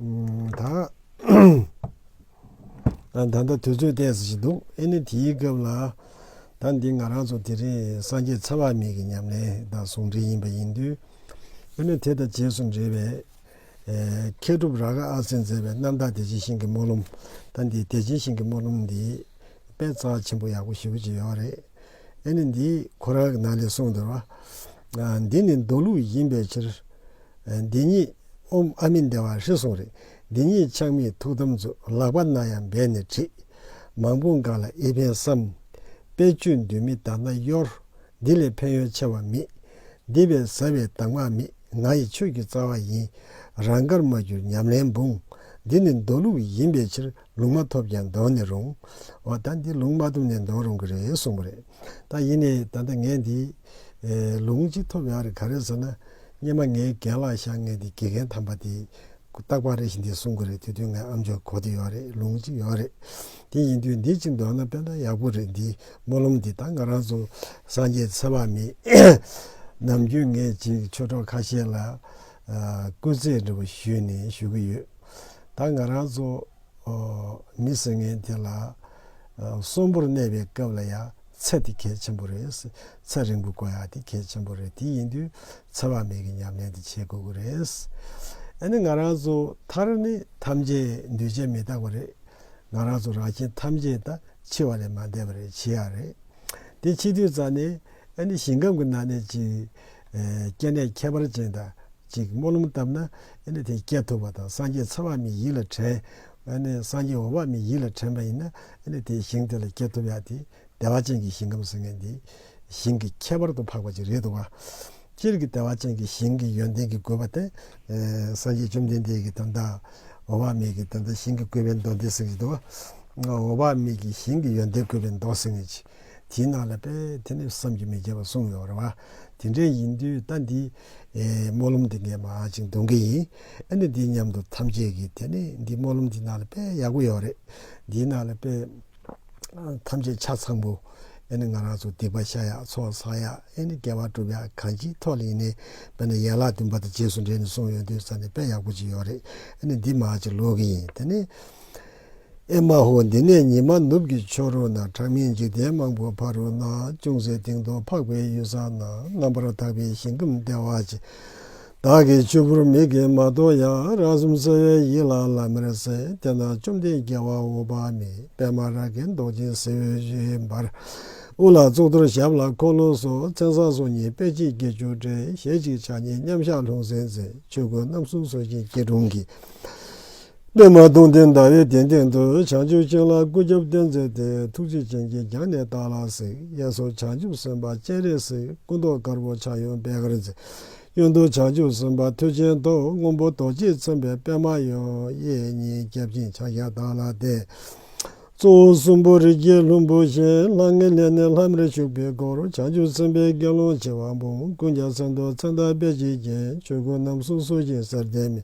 ད་ལྟ་དུས་ཚོད་བལྟས་ཟེར་གྱི་འདུག་ཨེ་ནི་དེའི་སྐབས་ལ། ད་འདི་ང་རང་ཚོ་དེ་རིང་སངས་རྒྱས་ཚེ་དབང་མེད་ཀྱི་ཉམས་ལེན་དང་ཟུང་འབྲེལ་ཡིན་པ་ཡིན་དུས། ཨེ་ནི་དེ་དང་རྗེས་སུ་འབྲེལ་བའི། མཁས་གྲུབ་རཱ་ག་ཨ་སིས་མཛད་པའི་རྣམ་དག་བདེ་ཆེན་ཞིང་གི་སྨོན་ལམ། ད་འདི་བདེ་ཆེན་ཞིང་གི་སྨོན་ལམ་འདི། དཔེ་གཙང་ཆེན་པོ་ཡག་པོ་ཞེ་པོ་ཅིག་ཡོད་རེད། ཨེ་ནི་འདི་ཁོ་རང་གི་ནང་ལས་གསུངས་འདུལ་བ། འདི་ནི་མདོ་ལུགས་ཡིན་པའི་ཕྱིར། འདི་ཉིད་ཨོམ་ཨ་མི་འདའ་བ་ཧྲི་གསུང་རིག། འདི་ཉིད་ཆགས་མེད་ཐུགས་དམ་རྫོགས། ལག་པ་རྣ་ཡང་སྦས་ནས་བྲིས། མང་པོ་འགགས་ལ་ཨེ་ཕན་བསམ། དཔེ་བཅུ་འདུས་མི་གདགས་ན་གཡོར། འདི་ལས་ཕན་ཡོན་ཆེ་བ་མེད། འདི་བས་ཟབ་བའི་དྭངས་མ་མེད། ང་ཡི་ཆོས་ཀྱི་རྩ་བ་ཡིན། རང་དགར་མ་གྱུར་ཉམས་ལེན་འབུངས། འདི་ནི་མདོ་ལུགས་ཡིན་པའི་ཕྱིར། ལུང་མ་ཐོབ་ཀྱང་འདོན་ནི་རུང། འོ་ད་འདི་ལུང་མ་ཐོབ་ནས་འདོན་རུང་གི་རེད་གསུངས་པ་རེད། ད་ཡིན་ནའི་ད་ལྟ་ངས་འདི། ལུང་གཅིག་ཐོབ་ཡག་རེད་ག་རེད་ཟེར་ན། སྙེ་མ་ངའི་རྒན་ལགས་ཤག་ངས་འདི་དགེ་རྒན་དམ་པ་དེས། རྟག་པར་རེ་ཞིག་འདི་གསུངས་གི་རེད་དེ་དུས་ངའི་ཨམ་ཆོས་གོ་དེ་ཡོད་རེད་ལུང་གཅིག་ཡོད་རེད། དེ་ཡིན་དུས་འདི་གཅིག་འདོན་ན་དཔེ་ན་ཡག་པོ་རེད་འདིའི་སྨོན་ལམ་འདི་ད་ང་རང་ཚོ་སངས་རྒྱས་ཚེ་དཔག་མེད། ནམ་རྒྱུན་ངས་ཅིག་ཆོས་གྲོགས་ཁ་ཤས་ལ། སྐུ་རྩེད་འདྲི་བ་ཞུས་ནས་ཞུ་གི་ཡོད། ད་ང་རང་ཚོ་མི་སེར་ངན་དེ་ལ་གསོན་པོར་གནས་པའི་སྐབས་ལ་ཡང་ཚེ་དེ་གལ་ཆེན་པོ་རེད། ཚེ་རིང་པོ་དགོས་ཡ་དེ་གལ་ཆེན་པོ་རེད་དེ་ཡིན་དུས་འཚེ་བ་མེད་ཀྱི་ཉམས་ལེན་དེ་བྱེད་དགོས་ཀྱི་རེད། ཨ་ནི་ང་རང་ཚོ་མཐར་ནི་ཐམས་ཅད་འདུས་བྱས་མི་རྟག་པ་རེད། ང་རང་ཚོ་རང་བཞིན་ཐམས་ཅད་ད་འཆི་བ་ལས་མ་འདས་པ་རེད་འཆི་ཡ་རེད། དེ་འཆི་དུས་ཙང་ནས་ཨ་ནི་ཞིང་ཁམས་ཀྱི་ནང་ནས་ཅིག་སྐྱེ་གནས་ཁྱད་པར་ཅན་དག་ཅིག་སྨོན་ལམ་བཏབ་ན། དེ་སྐྱེ་ཐུབ་པ་དང་སངས་རྒྱས་འཚོ་བ་མི་ཡིད་ལ་དྲན། སངས་རྒྱས་འོ་བ་མི་ཡིད་ལ་དྲན་པ་ཡིན་ན། དེའི་ཞིང་དེ་ལ་སྐྱེ་ཐུབ་ཡག་དེ། བདེ་བ་ཅན་གྱི་ཞིང་ཁམས་ཟེར་མཁན་དེ། ཞིང་གི་ཁྱད་པར་དུ་འཕགས་པ་ཅིག་རེད་འདུག་ག། སྤྱིར་གྱི་བདེ་བ་ཅན་གྱི་ཞིང་གི་ཡོན་ཏན་གྱི་དགོས་པ་སྟེ། སངས་རྒྱས་བཅོམ་ལྡན་འདས་ཀྱིས་ད་ལྟ། འོ་བ་མེད་ཀྱི་ད་ལྟ་ཞིང་གི་དགོས་པའི་མདོ་འདི་གསུངས་ཀྱི་འདུག་ག། འོ་བ་མེད་ཀྱི་ཞིང་གི་ཡོན་ཏན་དགོས་པའི་མདོ་གསུངས་ཡོད་ཀྱི། དེའི་ནང་ལ་པེ་ཐེ་ནི་བསམ་གྱིས་མི་ཁྱབ་པ་གསུངས་ཡོད་རེད་བ། དེ་འདྲའི་ཡིན་དུས་ལྟ་འདི། སྨོན་ལམ་འདི་ངས་མ་ཅིག་འདོན་གི་ཡིན། ཨ་ནི་འདི་སྙམ་དུ་ཐམས་ཅད་ཀྱིས་དེ་ནི་འདི་སྨོན་ལམ་འདི་ནང་ལ་པེ་ཡག་པོ་ཡོད་རེད། འདིའི་ནང་ལ་པེ། ཐམས་ཅད་ཆ་ཚང་པོ། ཨེ་ནི་ང་རང་ཚོ་སྡིག་པ་བཤགས་ཡག་ཚོགས་བསགས་ཡག་ཨེ་ནི་དགེ་བ་བསྒྲུབ་ཡག་གང་ཅིའི་ཐོག་ལ་ཡིན་ནའི་པེ་ན་ཡན་ལག་བདུན་པ་དང་རྗེས་སུ་འབྲེལ་ནས་གསུངས་ཡོད་དུས་ས་ནི་པེ་ཡག་པོ་ཅིག་ཡོད་རེད་ཨེ་ནི་འདི་མ་ཅིག་ལོས་ཀྱི་ཡིན་དེ་ནི། ཨེ་མ་ཧོ་འདི་ནས་ཉི་མ་ནུབ་ཀྱི་ཕྱོགས་རོལ་ན་གྲངས་མེད་འཇིག་རྟེན་མང་པོ་ཕ་རོལ་ན་ཅུང་ཟད་དེང་དུ་འཕགས་པའི་གཡུལ་ས་ན་རྣམ་པར་དག་པའི་ཞིང་ཁམས་བདེ་བ་ཅན་དག་གི་ཆུ་བུར་མིག་གིས་མ་མཐོང་ཡང་རང་གསུམ་གསལ་བའི་ཡིད་ལ་ལམ་མེར་གསལ་དེ་ན་བཅོམ་ལྡན་རྒྱལ་བ་འོད་དཔག་མེད་པདྨ་རཱ་གའི་མདོག་ཅན་གསེར་འོད་ཞུའི་འབར་དབུ་ལ་གཙུག་ཏོར་ཞབས་ལ་འཁོར་ལོ་སོགས་མཚན་བཟང་སོ་གཉིས་པད་ཕྱིའི་དགེ་བཅུ་དྲིལ་ཞལ་གཅིག་ཕྱག་གཉིས་མཉམ་གཞག་ལྷུང་བཟེད་མཛད་ཆོས་ཀུན་རྣམ་གསུམ་སོ་བཞིན་སྐྱིལ་ཀྲུང་གིས། པདྨ་གདུང་འདེགས་ཟླ་བའི་གདན་སྟེང་དུ་བྱང་ཆུབ་སྤྱན་ལ་སྐུ་རྒྱབ་བསྟན་མཛད་དེ་ཐུགས་རྗེ་ཅན་གྱིས་རྒྱང་ནས་བལྟ་ལ་གཟིགས་གཡས་སུ་བྱང་ཆུབ་སེམས་དཔའ་སྤྱན་རས་གཟིགས་སྐུ་མདོག་དཀར་པོ་ཕྱག་གཡོན་པད་དཀར་མཛེས། གཡོན་དུ་བྱང་ཆུབ་སེམས་དཔའ་ཐོད་ཆེན་མདོག་སྔོན་པོ་རྡོ་རྗེས་མཚན་པའི་པདྨ་ཡང་གཡས་གཉིས་རྒྱབ་ཅིང་ཕྱག་བཞག་བདག་ལ་གཏད། གཙོ་བོ་གསུམ་པོ་རིགས་བརྒྱའི་ལྷུན་པོ་གཞན་ལྷ་ལྔའི་གནས་ནས་ལྷམ་རེ་བྱུགས་པའི་སྒོར་བྱང་ཆུབ་སེམས་དཔའི་དགེ་སློང་བྱེ་བ་འབུམ་ཀུན་ཀྱང་མཚན་རྡོར་མཚན་དར་སྦལ་གྱིས་བརྒྱན་ཆོས་གོས་རྣམས་གསུང་གསོལ་ཅིང་གསེར་ལྡན་མེ།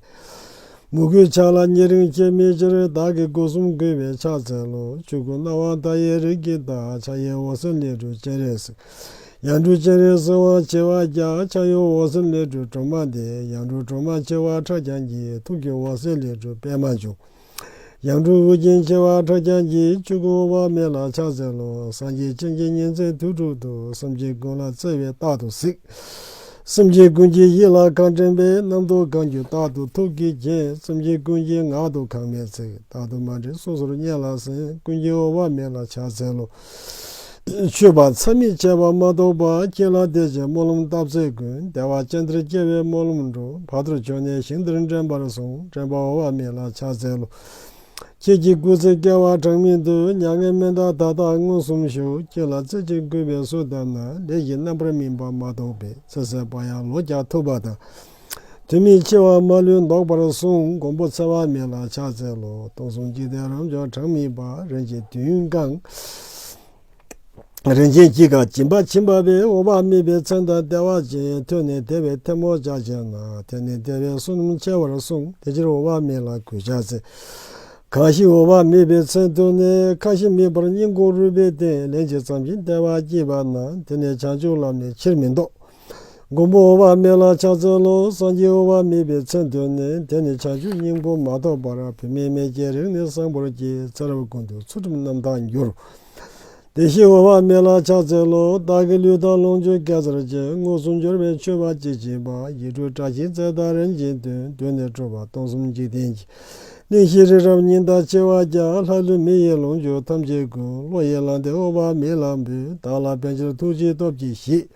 མུ་གུའི་ཕྱག་ལ་ཉེ་རིང་སྐྱེ་མེད་ཅེར་བདག་གི་སྒོ་གསུམ་བསྐུལ་བའི་ཕྱག་འཚལ་ལོ། བཅུ་དགུ་སྣང་བ་མཐའ་ཡས་རིགས་ཀྱི་བདག། ཕྱག་གཡས་འོད་ཟེར་ལས་གྲུབ་སྤྱན་རས་གཟིགས། ཡང་གྲུབ་སྤྱན་རས་གཟིགས་དབང་བྱེ་བ་བརྒྱ། ཕྱག་གཡོན་འོད་ཟེར་ལས་གྲུབ་གྲོ་མ་འདེགས། ཡང་གྲུབ་གྲོ་མ་བྱེ་བ་ཕྲག་བརྒྱ་འགྱེད། ཐུགས་ཀྱི་འོད་ཟེར་ལས་གྲུབ་པད་མ་འབྱུང། ཡང་སྤྲུལ་སྐུ་རྒྱན་བྱེ་བ་ཕྲག་བརྒྱ་བརྒྱའི་བཅུ་དགུ་བ་མེ་ལ་ཕྱག་འཚལ་ལོ། སངས་རྒྱས་སྤྱན་གྱི་གཉེར་མཛད་དུས་དྲུག་ཏུ་སེམས་ཅན་ཀུན་ལ་བརྩེ་བས་རྟག་ཏུ་གཟིགས། སེམས་ཅན་ཀུན་གྱི་ཡིད་ལ་གང་དྲན་པའི་རྣམ་རྟོག་གང་གྱུར་རྟག་ཏུ་ཐུགས་ཀྱིས་བརྒྱན། སེམས་ཅན་ཀུན་གྱི་ངག་ཏུ་གང་སྨྲས་ཚིག་རྟག་ཏུ་མ་འདྲེས་སོ་སོར་སྙན་ལ་གསན་ཀུན་གྱི་དབུ་བ་མེ་ལ་ཕྱག་འཚལ་ལོ། མཆོད་པ་མཚམས་མེད་བྱས་པ་མ་གཏོགས་པ་ཀྱེ་ལ་བདེ་བྱེད་སྨོན་ལམ་བཏབ་ཚེ་ཀུན་བདེ་བ་ཅན་འདིར་སྐྱེ་བའི་སྨོན་ལམ་འགྲོ་བར་དུ་བྱོན་ནས་ཞིང་འདིར་འདྲེན་པར་གསུང་དྲན་པ་འོ་བ་མེད་ལ་ཕྱག་འཚལ་ལོ། ཁྱེད་ཀྱི་སྐུ་ཚེ་བསྐལ་བ་གྲངས་མེད་དུ་མྱ་ངན་སྨན་དང་ད་ལྟ་མངོན་སུམ་ཞུགས་ཁྱེད་ལ་རྩེ་གཅིག་གུས་པས་གསོལ་བཏབ་ན་ལས་ཀྱི་རྣམ་པར་སྨིན་པ་མ་གཏོགས་པའི་ཚེ་ཟད་པ་ཡང་ལོ་བརྒྱ་ཐུབ་པ་དང། དུས་མིན་སྐྱེ་བ་མ་ལུས་བཟློག་པར་གསུངས་མགོན་པོ་འཚལ་བ་མེད་ལ་ཕྱག་འཚལ་ལོ། སྟོང་གསུམ་འཇིག་རྟེན་རབ་འབྱོར་གྲངས་མེད་པ་རིན་ཆེན་བདུན་བཀང། རིན་ཆེན་གྱིས་ཀྱང་བྱིན་པ་བྱིན་པ་བས་འོ་བ་རྨིས་པའི་མཚན་དང་ལྟེ་བ་ཅན་ཐོན་ནས་དེ་བས་ཐལ་མོ་ལྕགས་ཅན་ན་དེ་ནས་བདེ་བའི་བསོད་ནམས་ཆེ་བར་གསུངས་དེ་ཕྱིར་འོ་བ་རྨིས་ལ་གུས་ཕྱག་འཚལ། གང་ཞིག་འོ་བ་རྨིས་པའི་མཚན་ཐོས་ནས་ཁ་ཞེ་མེད་པར་སྙིང་ཁོང་རུས་པའི་སྟེང་ལན་གཅིག་བརྩམས་ཤིང་ལྟེ་བར་བསྐྱིལ་པ་ན་དེ་ནས་བྱང་ཆུབ་ལམ་ནས་ཕྱིར་མི་ལྡོག། མགོན་པོ་འོག་མིན་ལ་ཕྱག་འཚལ་ལོ། སངས་རྒྱས་འོག་མིན་པའི་མཚན་དོན་ནི་དེ་ནི་བྱང་ཆུབ་སྙིང་པོ་མ་གཏོགས་པར་བུད་མེད་མེད་ཀྱི་རིགས་ནི་གསང་པོར་གྱི་ཚེ་རབས་ཀུན་ཏུ་ཚུལ་ཁྲིམས་རྣམ་དག་འགྱུར། དེ་བཞིན་འོག་མིན་ལ་ཕྱག་འཚལ་ལོ། བདག་གི་ལུས་དང་ལོངས་སྤྱོད་སྐལ་བཟང་ཅན་དངོས་སུ་འབྱོར་བའི་མཆོད་པ་གཅིག་བྱིན་པ་ཡིད་སྤྲོས་བཀྲ་ཤིས་རྩལ་དང་རིན་ཆེན་དོན་དུ་ནི་སྤྲོ་བ་སྟོང་གསུམ་འཇིག་རྟེན་གྱི་ནི་ཤེས་རིག་རབ་སྙིང་དང་བཅས་བ་བརྒྱ་ལྷ་ཀླུ་མི་ཡི་ལོངས་སྤྱོད་ཐམས་ཅད་ཀུན་བློ་ཡིས་བླངས་ཏེ་ཨོ་བ་མི་ལ་འབུལ་བདག་ལ་ཕན་ཕྱིར་ཐུགས་རྗེའི་སྟོབས་ཀྱིས་ཤིག།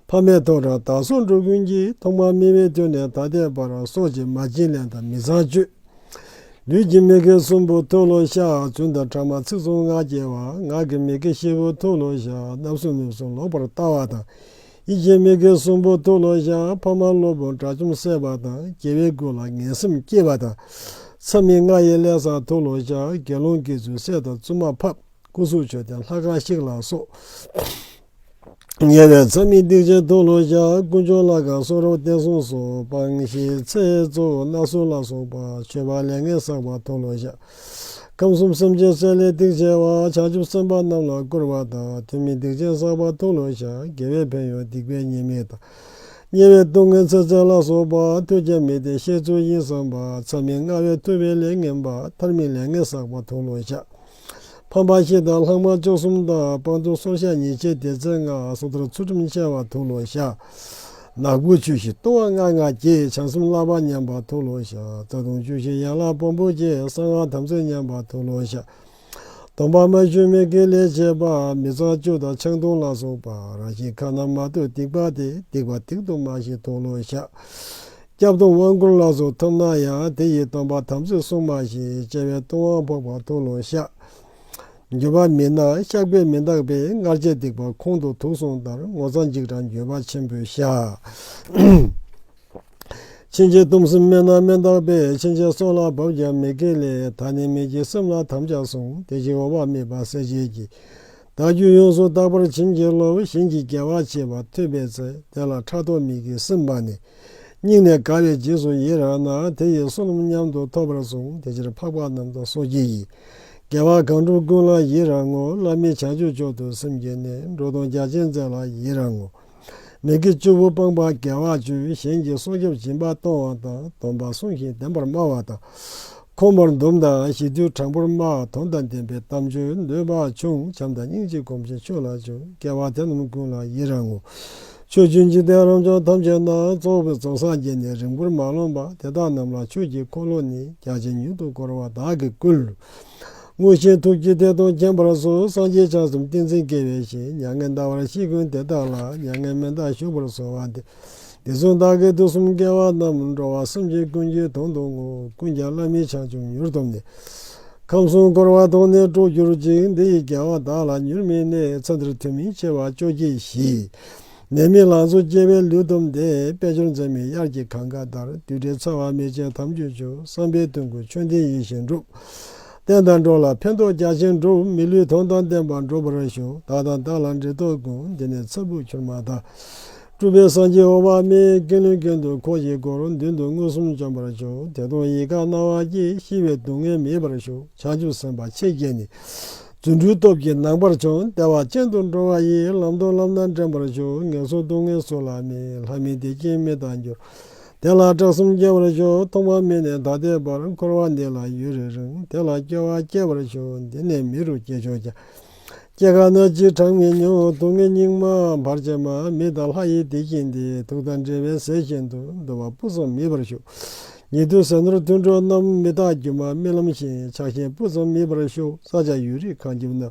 ཕ་མས་ཐོག་དྲངས་དར་སྲོང་འགྲོ་ཀུན་གྱི་ཐོག་མར་སྨིན་བའི་དུས་ནས་ད་ལྟའི་བར་སྲོག་གཅིག་མ་བྱིན་ལེན་དང་མི་ཚངས་སྤྱོད། ལུས་ཀྱི་མི་དགེ་གསུམ་པོ་ཐུགས་བློ་བཤགས་བཙུན་དང་ཕྲ་མ་ཚིག་གསུམ་ངག་སྐྱེ་བ་ངག་གི་མི་དགེ་བཞི་པོ་ཐུགས་བློ་བཤགས་རྣམ་གསུམ་ནུབ་གསུམ་ལོག་པར་ལྟ་བ་དང་ཡིད་ཀྱི་མི་དགེ་གསུམ་པོ་ཐུགས་ལ་བཞག་ཕ་མ་སློབ་དཔོན་དགྲ་བཅོམ་བསད་པ་དང་རྒྱལ་བའི་སྐུ་ལ་ངན་སེམས་སྐྱེས་པ་དང། མཚམས་མི་ལྔ་ཡི་ལས་བསགས་ཐུགས་ལ་བཞག་དགེ་སློང་གིས་ཚུལ་བསད་དང་བཙུན་མ་ཕབ་སྐུ་གཟུགས་མཆོད་རྟེན་ལྷ་ཁང་བཤིག་ལ་སོགས། ཉེ་བའི་མཚམས་མི་སྡིག་ཅན་ཐུགས་ལ་བཞག་དཀོན་མཆོག་ལྷ་ཁང་གསོ་རབ་བསྟན་སྲུང་སོགས་སྤང་བྱའི་ཚེ་གཙོ་བོ་སྣ་གསུམ་ལ་སོགས་པ་མཆོད་པ་ལས་ངན་བསགས་པ་ཐུགས་ལ་བཞག། ཁམས་གསུམ་སེམས་ཅན་གསོད་ལས་སྡིག་ཆེ་བ་བྱང་ཆུབ་སེམས་དཔའ་རྣམས་ལ་བསྐུར་བ་དང་ཐུན་མིན་སྡིག་ཅན་བསགས་པ་ཐུགས་ལོང་བཤགས་དགེ་བའི་ཕན་ཡོན་སྡིག་པའི་ཉེས་དམིགས་དང། དམྱལ་བའི་སྡུག་བསྔལ་ཚེ་ཚད་ལ་སོགས་པ་ཐོས་ཀྱང་མི་བདེ་བཤད་ཚུལ་ཡིན་བསམ་པ་ཚད་མེད་མངའ་བས་ཐུབ་པའི་ལས་ངན་པ་ཐར་མེད་ལས་ངན་བསགས་པ་ཐུགས་ལོང་བཤགས། ཕམ་པ་བཞི་དང་ལྷག་མ་བཅུ་གསུམ་དང་སྤང་ཐུན་སོར་བཤགས་ཉེས་བྱས་ཏེ་ཚེ་ལྔ་སོ་ཐར་ཚུལ་ཁྲིམས་འཆལ་བ་ཐུགས་ལོང་བཤགས། ནག་པོའི་ཆུ་བཞིན་ལྟུང་བ་ལྔ་ལྔ་བསྐྱེད་བྱང་སེམས་བསླབ་པ་ཉམས་པར་མཐོལ་ལོ་བཤགས་རྩ་ལྟུང་བཅུ་བཞི་ཡན་ལག་བོང་བུ་བསྐྱེད་གསང་སྔགས་དམ་ཚིག་ཉམས་པར་མཐོལ་ལོ་བཤགས། སྡོམ་པ་མ་ཞུ་མི་དགེའི་ལས་བྱེད་པ་མི་གཙང་བཅུ་དང་ཆང་འཐུང་ལ་སོགས་པ་རང་བཞིན་ཁ་ན་མ་ཐོས་སྡིག་པ་དེ་སྡིག་པ་སྡིག་ཏུ་མ་བྱེད་མཐོལ་ལོ་བཤགས། སྐྱབས་སྡོམ་དབང་བསྐུར་ལ་སོགས་ཐོབ་ན་ཡང་དེ་ཡིས་སྡོམ་པ་དམ་ཚིག་སྲུང་མ་ཞེས་བྱ་བའི་ལྟུང་བ་འཕགས་པ་མཐོལ་ལོ་བཤགས། འགྱོད་པ་མེད་ན་ཤག་པས་མི་འདག་པས་མངར་ཆའི་སྡིག་པ་ཁོང་དུ་དུག་སོང་ལྟར་ངོ་ཚ་འཇིགས་སྐྲག་འགྱོད་པ་ཆེན་པོས་བཤགས། ཕྱིན་ཆད་སྟོང་གསུམ་སྨོན་ན་མི་འདག་པས་ཕྱིན་ཆད་སྲོག་ལ་བབ་ཀྱང་མི་དགེ་ལས་ད་ནི་མི་བགྱིད་སེམས་ལ་དམ་བཅའ་བཟུང་དེ་བཞིན་འོག་བར་དམིགས་པ་གསལ་བྱེད་ཀྱིས། བདག་རྒྱུད་ཡོངས་སུ་དག་པར་བྱིན་གྱིས་རློབས་བཞིན་གྱི་རྒྱལ་བ་ཆེ་བ་ཐོས་པའི་ཚེ་དེ་ལ་ཕྲག་དོག་མི་བགྱིད་སེམས་དཔའ་ནི། སྙིང་ནས་དགའ་བའི་རྗེས་སུ་ཡི་རང་ན་དེ་ཡི་བསོད་ནམས་མཉམ་དུ་ཐོབ་པར་བཟུང་དེ་ཕྱིར་འཕགས་པ་རྣམས་དང་སོ་སྐྱེ་ཡིས། རྒྱལ་བ་གང་འགྲོ་ཀུན་ལ་ཡི་རང་ངོ། བླ་མེད་བྱ་སྤྱོད་མཆོག་ཏུ་སེམས་བསྐྱེད་ནས། འགྲོ་དང་རྒྱ་ཆེན་མཛད་ལ་ཡི་རང་ངོ། མི་དགེ་བཅུ་པོ་སྤངས་པ་དགེ་བ་བཅུ། གཞན་གྱི་སྲོག་སྐྱབས་སྦྱིན་པ་གཏོང་བ་དང། སྡོམ་པ་བསྲུང་ཞིང་བདེན་པར་སྨྲ་བ་དང། ཁོང་པར་འདོམས་དང་ཞི་དུལ་དྲང་པོར་སྨྲ། དོན་དང་ལྡན་པའི་གཏམ་བརྗོད་འདོད་པ་ཆུང། བྱམས་དང་སྙིང་རྗེ་སྒོམ་ཆེན་ཆོས་ལ་སྦྱོར། རྒྱལ་བ་དེ་རྣམས་ཀུན་ལ་ཡི་རང་ངོ། ཆོས་ཀྱི་འཇིག་རྟེན་རང་བྱུང་ཐམས་ཅད་ན་རྫོགས་པའི་རྫོགས་སངས་རྒྱས་ནི་རིང་པོར་མ་ལོངས་པ་དེ་དག་རྣམས་ལ་ཆོས་ཀྱི་འཁོར་ལོ་ནི་རྒྱ་ཆེན་མྱུར་དུ་བསྐོར་བ་དག་གིས་བསྐུལ། དངོས་ཆེན་ཐུགས་ཀྱི་དེ་དང་མཁྱེན་པར་གསོལ་སངས་རྒྱས་ཆགས་གསུམ་ཏིང་འཛིན་སྐྱེ་བའི་ཞིང་མྱ་ངན་འདའ་བར་ཤིས་ཀུན་དེ་དག་ལ་མྱ་ངན་མི་འདའ་ཞུ་བར་གསོལ་བ་འདི་དེ་གསུང་དག་གིས་དུས་གསུམ་སྐལ་བ་རྣམས་འགྲོ་བ་སེམས་ཅན་ཀུན་གྱི་དོན་དུ་ངོ་ཀུན་ཀྱང་བླ་མེད་བྱང་ཆུབ་མྱུར་ཐོབ་ནས། ཁམས་གསུམ་བསྐོར་བ་དོང་ནས་སྤྲོ་གྱུར་ཅིག་འདི་ཡི་རྒྱལ་བ་བདག་ལ་མྱུར་མིན་གནས་ཚོད་འདིར་ཐུན་མིན་ཆེ་བ་བཅོ་བརྒྱད་བཞི། ནད་མེད་ལང་ཚོ་སྐྱེ་བའི་ལུས་དུམ་བདེ་དཔལ་འབྱོར་འཛད་མེད་དབྱར་གྱི་གངས་དཀར་ལྟར་དུས་དྲན་ཚ་བ་མེ་ལྕེ་དམ་ཆོས་ཆུ་བསམ་པའི་དོན་ཀུན་ཆོས་ལྡན་ཡིད་བཞིན་འགྲུབ། བསྟན་དང་འགྲོ་ལ་ཕན་ཐོགས་རྒྱ་ཆེན་འགྲུབ་མི་ལུས་དོན་དང་ལྡན་པར་འགྲུབ་པར་ཞུ་བདག་དང་བདག་ལ་འབྲེལ་ཐོགས་ཀུན་འདི་ནས་ཚ་བུ་ཁྱུར་མ་དང། སྤྲུལ་པའི་སངས་རྒྱས་འོག་མ་མེའི་ཀེང་རུས་གྱེན་དུ་འཁོར་བཞིའི་སྒོ་རུ་མདུན་དུ་མངོན་སུམ་བྱོན་པར་བྱུང་དེ་མཐོང་ཡིད་དགའ་སྣང་བ་སྐྱེས་ཤི་བའི་སྡུག་བསྔལ་མེད་པར་བཞུགས་བྱང་ཆུབ་སེམས་དཔའ་ཆེ་བརྒྱད་ནི། རྫུ་འཕྲུལ་སྟོབས་ཀྱིས་ནང་པར་བྱོན་བདེ་བ་ཅན་དུ་འགྲོ་བ་ཡི་ལམ་མཐོང་ལམ་སྣ་འདྲེན་པར་བྱོན་ངན་སོང་སྡུག་བསྔལ་སོགས་ལ་མིན་ལྷ་མིན་བདེ་སྐྱིད་མི་དང་འགྱུར། དེ་ལ་དྲག་གསུམ་སྐྱེ་བར་བྱོན་ཐོག་མ་མེ་ནས་ད་ལྟའི་བར་འཁོར་བ་འདི་ལ་ཡུན་རིང་རུང་དེ་ལ་སྐྱེ་བ་སྐྱེ་བར་བྱོན་འདི་ནས་མི་རུ་སྐྱེ་ཆོག་ཀྱང། སྐྱེ་རྒ་ན་འཆིའི་གྲངས་མི་མྱོང་སྡུག་བསྔལ་སྙིགས་མ་བར་ཆད་མ་མི་དང་ལྷ་ཡི་སྡིག་བྱིན་ཏེ་དུག་དང་འདྲེས་པའི་ཟས་བཞིན་དུ་འདུ་བ་སྤུ་ཙོམ་མིད་པར་ཞུགས། ཉེ་དུའི་ཟས་ནོར་མཐུན་གྲོགས་རྣམས་མི་རྟག་སྒྱུ་མ་རྨི་ལམ་བཞིན་ཆགས་ཤིང་སྤུ་ཙོམ་མིད་པར་ཞུགས་ས་ཆ་ཡུལ་རིག་ཁང་ཁྱིམ་ན་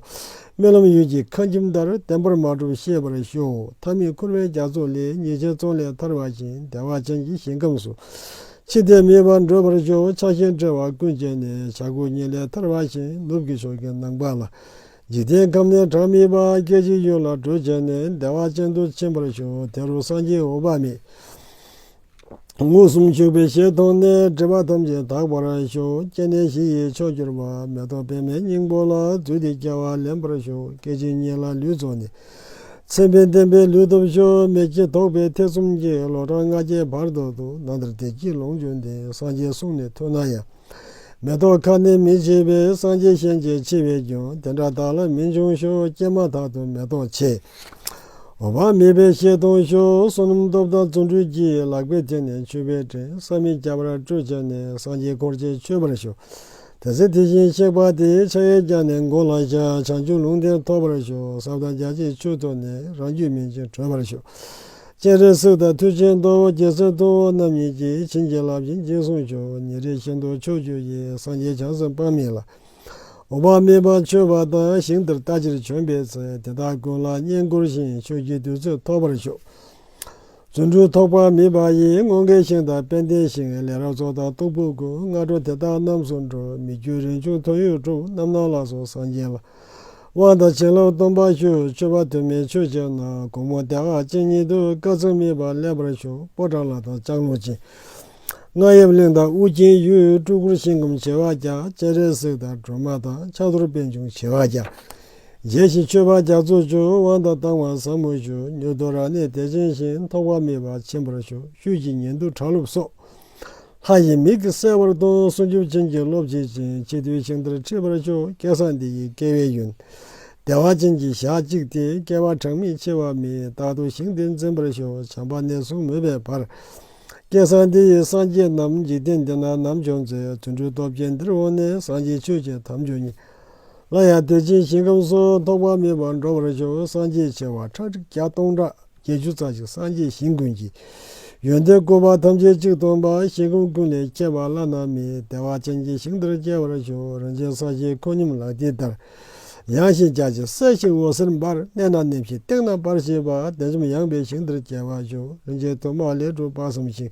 རྨི་ལམ་ཡུལ་གྱི་ཁང་ཁྱིམ་ལྟར་བདེན་པར་མ་གྲུབ་ཤེས་པར་ཞུགས་མཐའ་མི་འཁོར་བའི་རྒྱ་མཚོ་ལས་ཉེས་ཅན་ཙོང་ལས་ཐར་བ་བཞིན་བདེ་བ་ཅན་གྱི་ཞིང་ཁམས་སུ། ཅི་སྟེ་མེད་པར་འདོད་པར་གྱུར་པའི་ཆ་རྐྱེན་བྲལ་བ་ཀུན་བཅད་ནས་བྱ་རྒོད་སྙིང་ལས་ཐར་བ་བཞིན་ནུབ་ཀྱི་ཕྱོགས་ཀྱི་ནང་པ་ལ་འཇིག་རྟེན་ཁམས་ནས་གྲངས་མེད་པ་སྐད་ཅིག་ཡུན་ལ་བགྲོད་བྱས་ནས་བདེ་བ་ཅན་དུ་ཕྱིན་པར་བྱུང་དེ་རུ་སངས་རྒྱས་འོད་དཔག་མེད་མངོན་སུམ་བྱུང་བའི་ཞལ་མཐོང་ནས་སྒྲིབ་པ་ཐམས་ཅད་དག་པར་བྱུང་སྐྱེ་གནས་བཞི་ཡི་མཆོག་གྱུར་པ་མེ་ཏོག་པད་མའི་སྙིང་པོ་ལ་བརྫུས་ཏེ་སྐྱེ་བ་ལེན་པར་བྱུང་སྐད་ཅིག་ཉིད་ལ་ལུས་རྫོགས་ནས། མཚན་དཔེ་བསྟན་པའི་ལུས་སྟོབས་ཤོར་མེད་ཀྱི་དོགས་པའི་ཐེ་ཚོམ་གྱིས་ལོ་གྲངས་ལྔ་བརྒྱའི་བར་དོ་དུ་ན་དར་དད་ཀྱི་ལོངས་སྤྱོད་འདི་སངས་རྒྱས་གསུང་ནས་ཐོས་ན་ཡང། མེ་ཏོག་ཁ་ནི་མི་བྱེད་པས་སངས་རྒྱས་ཤན་འབྱེད་ཆེ་བས་ཀྱང་དེ་འདྲ་དག་ལ་མི་འབྱུང་ཤོག་སྐྱེས་མ་ཐག་ཏུ་མེ་ཏོག་ཆེ་བ་མེད་པའི་ཤེལ་སྟོང་ཤོག་བསོད་ནམས་སྟོབས་དང་རྫུ་འཕྲུལ་གྱིས་ལག་པའི་ཐད་ནས་མཆོད་པའི་དྲན་ས་མི་སྐྱ་བར་སྤྲོད་བྱས་ནས་སངས་རྒྱས་འཁོར་བཅས་མཆོད་པར་ཤོག། དེ་ཚེ་དེ་བཞིན་གཤེགས་པ་དེའི་ཕྱག་གཡས་བརྐྱང་ནས་མགོ་ལ་བཞག་བྱང་ཆུབ་ལུང་བསྟན་ཐོབ་པར་ཞུ་ཟབ་དང་རྒྱ་ཆེའི་ཆོས་ཐོས་ནས་རང་རྒྱུད་སྨིན་ཅིང་གྲོལ་བར་ཞུ། སྤྱན་རས་གཟིགས་དང་མཐུ་ཆེན་མདོ་བོ་རྒྱལ་མཚན་ཐུ་བོ་རྣམ་གཉིས་ཀྱིས་བྱིན་གྱིས་བརླབས་ཀྱིས་འཇིགས་གསུམ་ཆོས་ཉིད་རིག་བྱེད་མདོ་ཆོས་བརྒྱུད་ཀྱི་སངས་རྒྱས་བྱང་སེམས་དཔག་མེད་ལ། དཔག་མེད་པ་མཆོད་པ་དང་ཞིང་འདིར་ལྟ་ཅིར་བྱོན་པའི་ཚེ་དེ་དག་ཀུན་ལ་བསྙེན་བཀུར་ཞིང་ཆོས་ཀྱི་དུས་ཚོད་ཐོབ་པར་ཞུ། རྫུ་འཕྲུལ་ཐོགས་པ་མིན་པ་ཡིན་སྔོན་དགེ་བཤེས་དང་དཔལ་ལྡན་ཞིང་ལས་རབ་རྫོགས་དང་སྟུག་པོ་དགུ་སྔ་དྲོ་དེ་དག་རྣམས་སུ་འགྲོ་མི་རྒྱུད་རིན་ཆུང་ཐོན་ཡུལ་དྲུག་རྣམ་སྣང་ལགས་སོ་སངས་རྒྱས་ལ་དབང་དང་བྱིན་རླབས་སྟོང་པར་ཞུ་མཆོད་པ་དུ་མས་མཆོད་བྱས་ན་དགོང་མོ་དེ་ཨ་ཅེ་ཉིད་དུ་བཀའ་ཚུལ་སྨིན་པ་ལེགས་པར་བྱུང་པོ་བྲག་ལ་དང་ལྕགས་ལུང་ཅན། རྔ་ཡབ་གླིང་དང་ཨུ་རྒྱན་ཡུལ་སྤྲུལ་སྐུར་བཞེངས་སྐུ་བྱེ་བ་བརྒྱ་སྤྱན་རས་གཟིགས་དང་སྒྲོལ་མ་དང་ཕྱག་རྡོར་པད་འབྱུང་བྱེ་བ་བརྒྱ། རྒྱས་ཤིང་མཆོད་པ་རྒྱ་མཚོ་བྱོན་དབང་དང་བཏང་བ་བཟང་མོ་བྱོན་མྱུར་དུ་རང་གནས་དད་ཅན་ཞིང་ཐོགས་པ་མེད་པ་ཆེན་པོར་བྱོན་བཅུད་ཀྱི་ཉེ་འདུ་གྲགས་ལུགས་སོགས། ལྷ་ཡི་མིག་གིས་གསལ་བར་སྟོན་གསུང་ཆུབ་ཅན་གྱི་སློབ་བྱེད་ཅན་གཅིག་ཏུ་ཞིང་ལྟར་འཁྲིད་པར་བྱོན་སྐལ་བཟང་འདི་ཡི་སྐལ་བའི་ཡོན། བདེ་བ་ཅན་གྱི་ཞག་གཅིག་སྟེ་སྐལ་བ་གྲངས་མེད་ཆེ་བ་མེད་རྟག་ཏུ་ཞིང་འདི་འཛིན་པར་ཤོག་བྱམས་པ་གནས་གསུམ་མོས་པའི་བར། སྐལ་བཟང་འདི་ཡིས་སངས་རྒྱས་རྣམས་འཇིག་རྟེན་འདི་ན་ནམ་བྱོན་ཚེ་དུད་འགྲོའི་སྟོབས་ཀྱིས་འདིར་འོངས་ནས་སངས་རྒྱས་ཆོས་ཀྱི་དམ་ཆོས་ཉིད། སླར་ཡང་དེ་བཞིན་ཞིང་ཁམས་སུ་ཐོགས་པ་མེད་པར་འགྲོ་བར་གྱུར་སངས་རྒྱས་བྱེ་བ་ཁྲག་ཁྲིག་བརྒྱ་སྟོང་ཕྲག་བརྒྱད་ཅུ་རྩ་གཅིག་སངས་རྒྱས་ཞིང་ཀུན་གྱི་ཡོན་ཏན་བཀོད་པ་ཐམས་ཅད་གཅིག་སྟོང་པ་ཞིང་ཁམས་ཀུན་ལས་ཁྱད་པར་བླ་ན་མེད་བདེ་བ་ཅན་གྱི་ཞིང་དེར་སྐྱེ་བར་ཞུགས་རིན་ཆེན་ས་གཞི་ཁོད་སྙོམས་ལག་མཐིལ་ལྟར་ཡངས་ཤིང་རྒྱ་ཆེ་གསལ་ཞིང་འོད་ཟེར་འབར་གནས་ན་ནེམ་ཞིང་སྟེང་ན་འབར་ཞེས་པ་དལ་འཇོམས་ཡངས་པའི་ཞིང་དེར་སྐྱེ་བར་ཞུགས་རིན་ཆེན་ཐོད་དམར་ལས་གྲུབ་དཔག་བསམ་ཤིང་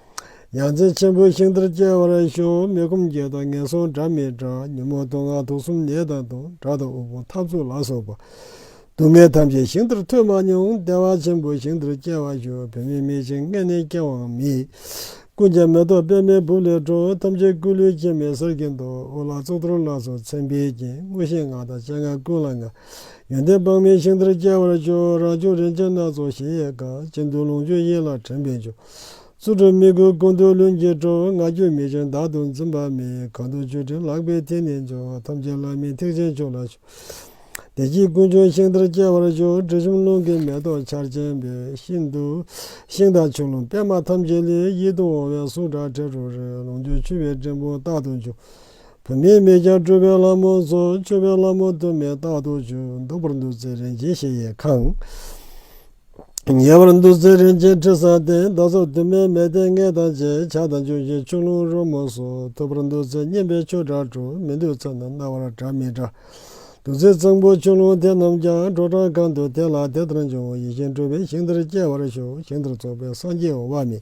ཡང་རྩེ་ཆེན་པོའི་ཤིང་རྟར་སྐྱེ་བར་ཤོག་མེ་སྒོམ་བརྒྱད་དང་ངན་སོང་དགྲ་མེད་དགྲ་ཉོན་མོངས་སྟོང་སྔགས་དུག་གསུམ་ནད་དང་དུག་དགྲ་དང་དབུལ་ཕོངས་འཐབ་རྩོད་ལ་སོགས་པ་སྡུག་བསྔལ་ཐམས་ཅད་ཤིང་རྟར་ཐོས་མ་མྱོང་བདེ་བ་ཆེན་པོའི་ཤིང་རྟར་སྐྱེ་བར་ཤོག་བུད་མེད་མེད་ཅིང་མངལ་ནས་སྐྱེ་བའང་མེད། ཀུན་མཁྱེན་མེ་ཏོག་པད་མའི་སྦུབས་ལས་འཕྲོ་ཐམས་ཅད་སྐུ་ལུས་སྐྱེ་མེད་གསེར་གྱི་མདོག་དབུ་ལ་གཙུག་ཏོར་ལ་སོགས་མཚན་དཔེའི་རྒྱན་དངོས་ཤེས་ལྔ་དང་སྤྱན་སྔར་ཀུན་ལ་མངའ། ཡོན་ཏན་དཔག་མེད་ཤིང་རྟར་སྐྱེ་བར་ཤོག་རང་བྱུང་རིན་ཆེན་སྣ་ཚོགས་གཞལ་ཡས་ཁང་སྤྱི་འདུལ་ལོངས་སྤྱོད་ཡིད་ལ་དྲན་པས་འཇོ། རྩུབ་ཀྲུང་མི་དགོས་ཀུན་ཏུ་ལྷུན་གྱིས་གྲུབ། ང་རྒྱུད་མི་འཆོལ་བདག་ཏུ་འཛིན་པ་མེད། གང་དུ་བཅོས་ཕྲིན་ལག་པའི་མཐིལ་ནས་འཇོག། ཐམས་ཅད་བླ་མེད་ཐེག་ཆེན་མཆོག་ལ་བྱོན། བདེ་སྐྱིད་ཀུན་འབྱུང་ཤིང་རྟར་སྐྱེ་བར་གྱུར། དྲི་ཞིམ་རླུང་གི་མེ་ཏོག་ཆར་ཆེན་པའི་ཤིན་ཏུ། ཤིང་དང་ཆུ་རླུང་པད་མ་ཐམས་ཅད་ལས། ཡིད་དུ་འོང་བའི་གསུང་སྒྲ་དྲི་རོ་རེག། ལོངས་སྤྱོད་འཁྱུད་པའི་སྤྲིན་ཕུང་རྟག་ཏུ་འཇུག། བུད་མེད་མེད་ཀྱང་སྤྲུལ་པའི་ལྷ་མོ་ཚོགས། མཆོད་པའི་ལྷ་མོ་དུ་མས་རྟག་ཏུ་འཇུག། འདོད་པར་འདུད་ཚེ་རིན་ཆེན་གཞལ་ཡས་ཁང། ཉེ་བར་འདུ་འཛི་རིན་ཆེན་ཁྲི་བཟང་བསྟན་རྡོ་རྫོགས་དུ་མས་མལ་སྟན་ལྔས་དང་བཅས་ཕྱག་དང་ལྗོན་ཤིང་ཆུ་ཀླུང་རོལ་མོ་སོགས་ཐུབ་པར་འདུ་འཛི་སྙན་པའི་ཆོས་གྲྭ་གྲུ་མི་འདུལ་ཚོན་དང་རྣ་བར་གྲགས་མི་གྲགས་འདུ་འཛི་གཙང་པོ་ཆུ་ཀླུང་དེ་རྣམས་ཀྱང་དྲོ་གྲང་གང་དུ་དེ་ལ་དེ་ལྟར་འབྱུང་ཡིད་བཞིན་སྤྲུལ་པའི་ཞིང་འདིར་སྐྱེ་བར་ཞུགས་ཞིང་འདིར་རྫོགས་པའི་སངས་རྒྱས་འོང་བ་མིན།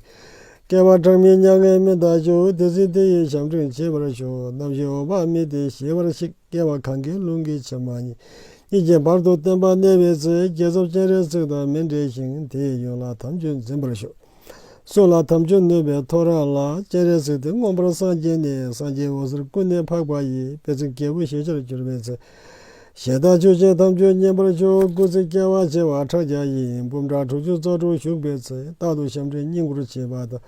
སྐལ་བ་གྲངས་མེད་མྱ་ངན་མི་འདའ་ཞུགས་དེ་ཟིན་དེ་ཡིས་བྱམས་སྤྲུལ་མཆེད་པར་ཞུགས་རྣམ་བཞི་འོང་བ་མིན་ཏེ་ཞི་བར་གཤེགས། རྒྱལ་བ་གང་གཱའི་ཀླུང་གི་བྱེ་མ་སྙེད་ཀྱི་བར་དུ་བརྟན་པར་གནས་པའི་ཚེ་རྒྱལ་ཚབ་སྤྱན་རས་གཟིགས་དང་མི་འབྲལ་ཞིང་དེའི་ཡོན་ལ་དམ་ཆོས་འཛིན་པར་ཤོག། གསུང་ལ་དམ་ཆོས་ནོད་པའི་ཐོ་རངས་ལ་སྤྱན་རས་གཟིགས་དེ་མངོན་པར་སངས་རྒྱས་ནས་སངས་རྒྱས་འོད་ཟེར་ཀུན་ནས་འཕགས་པ་ཡི་དཔལ་ཚིག་རྒྱལ་པོ་ཞེས་བྱར་གྱུར་པའི་ཚེ། ཞལ་བདག་ཆོས་ཅན་དམ་ཆོས་མཉན་པར་ཤོག་སྐུ་ཚེ་བསྐལ་བ་བྱེ་བ་ཕྲག་བརྒྱ་ཡིན་སྤུབས་འདྲ་དྲུག་ཅུ་རྩ་དྲུག་བཞུགས་པའི་ཚེ་རྟག་ཏུ་ཞབས་འདྲེན་བསྙེན་བཀུར་བྱེད་པ་དང།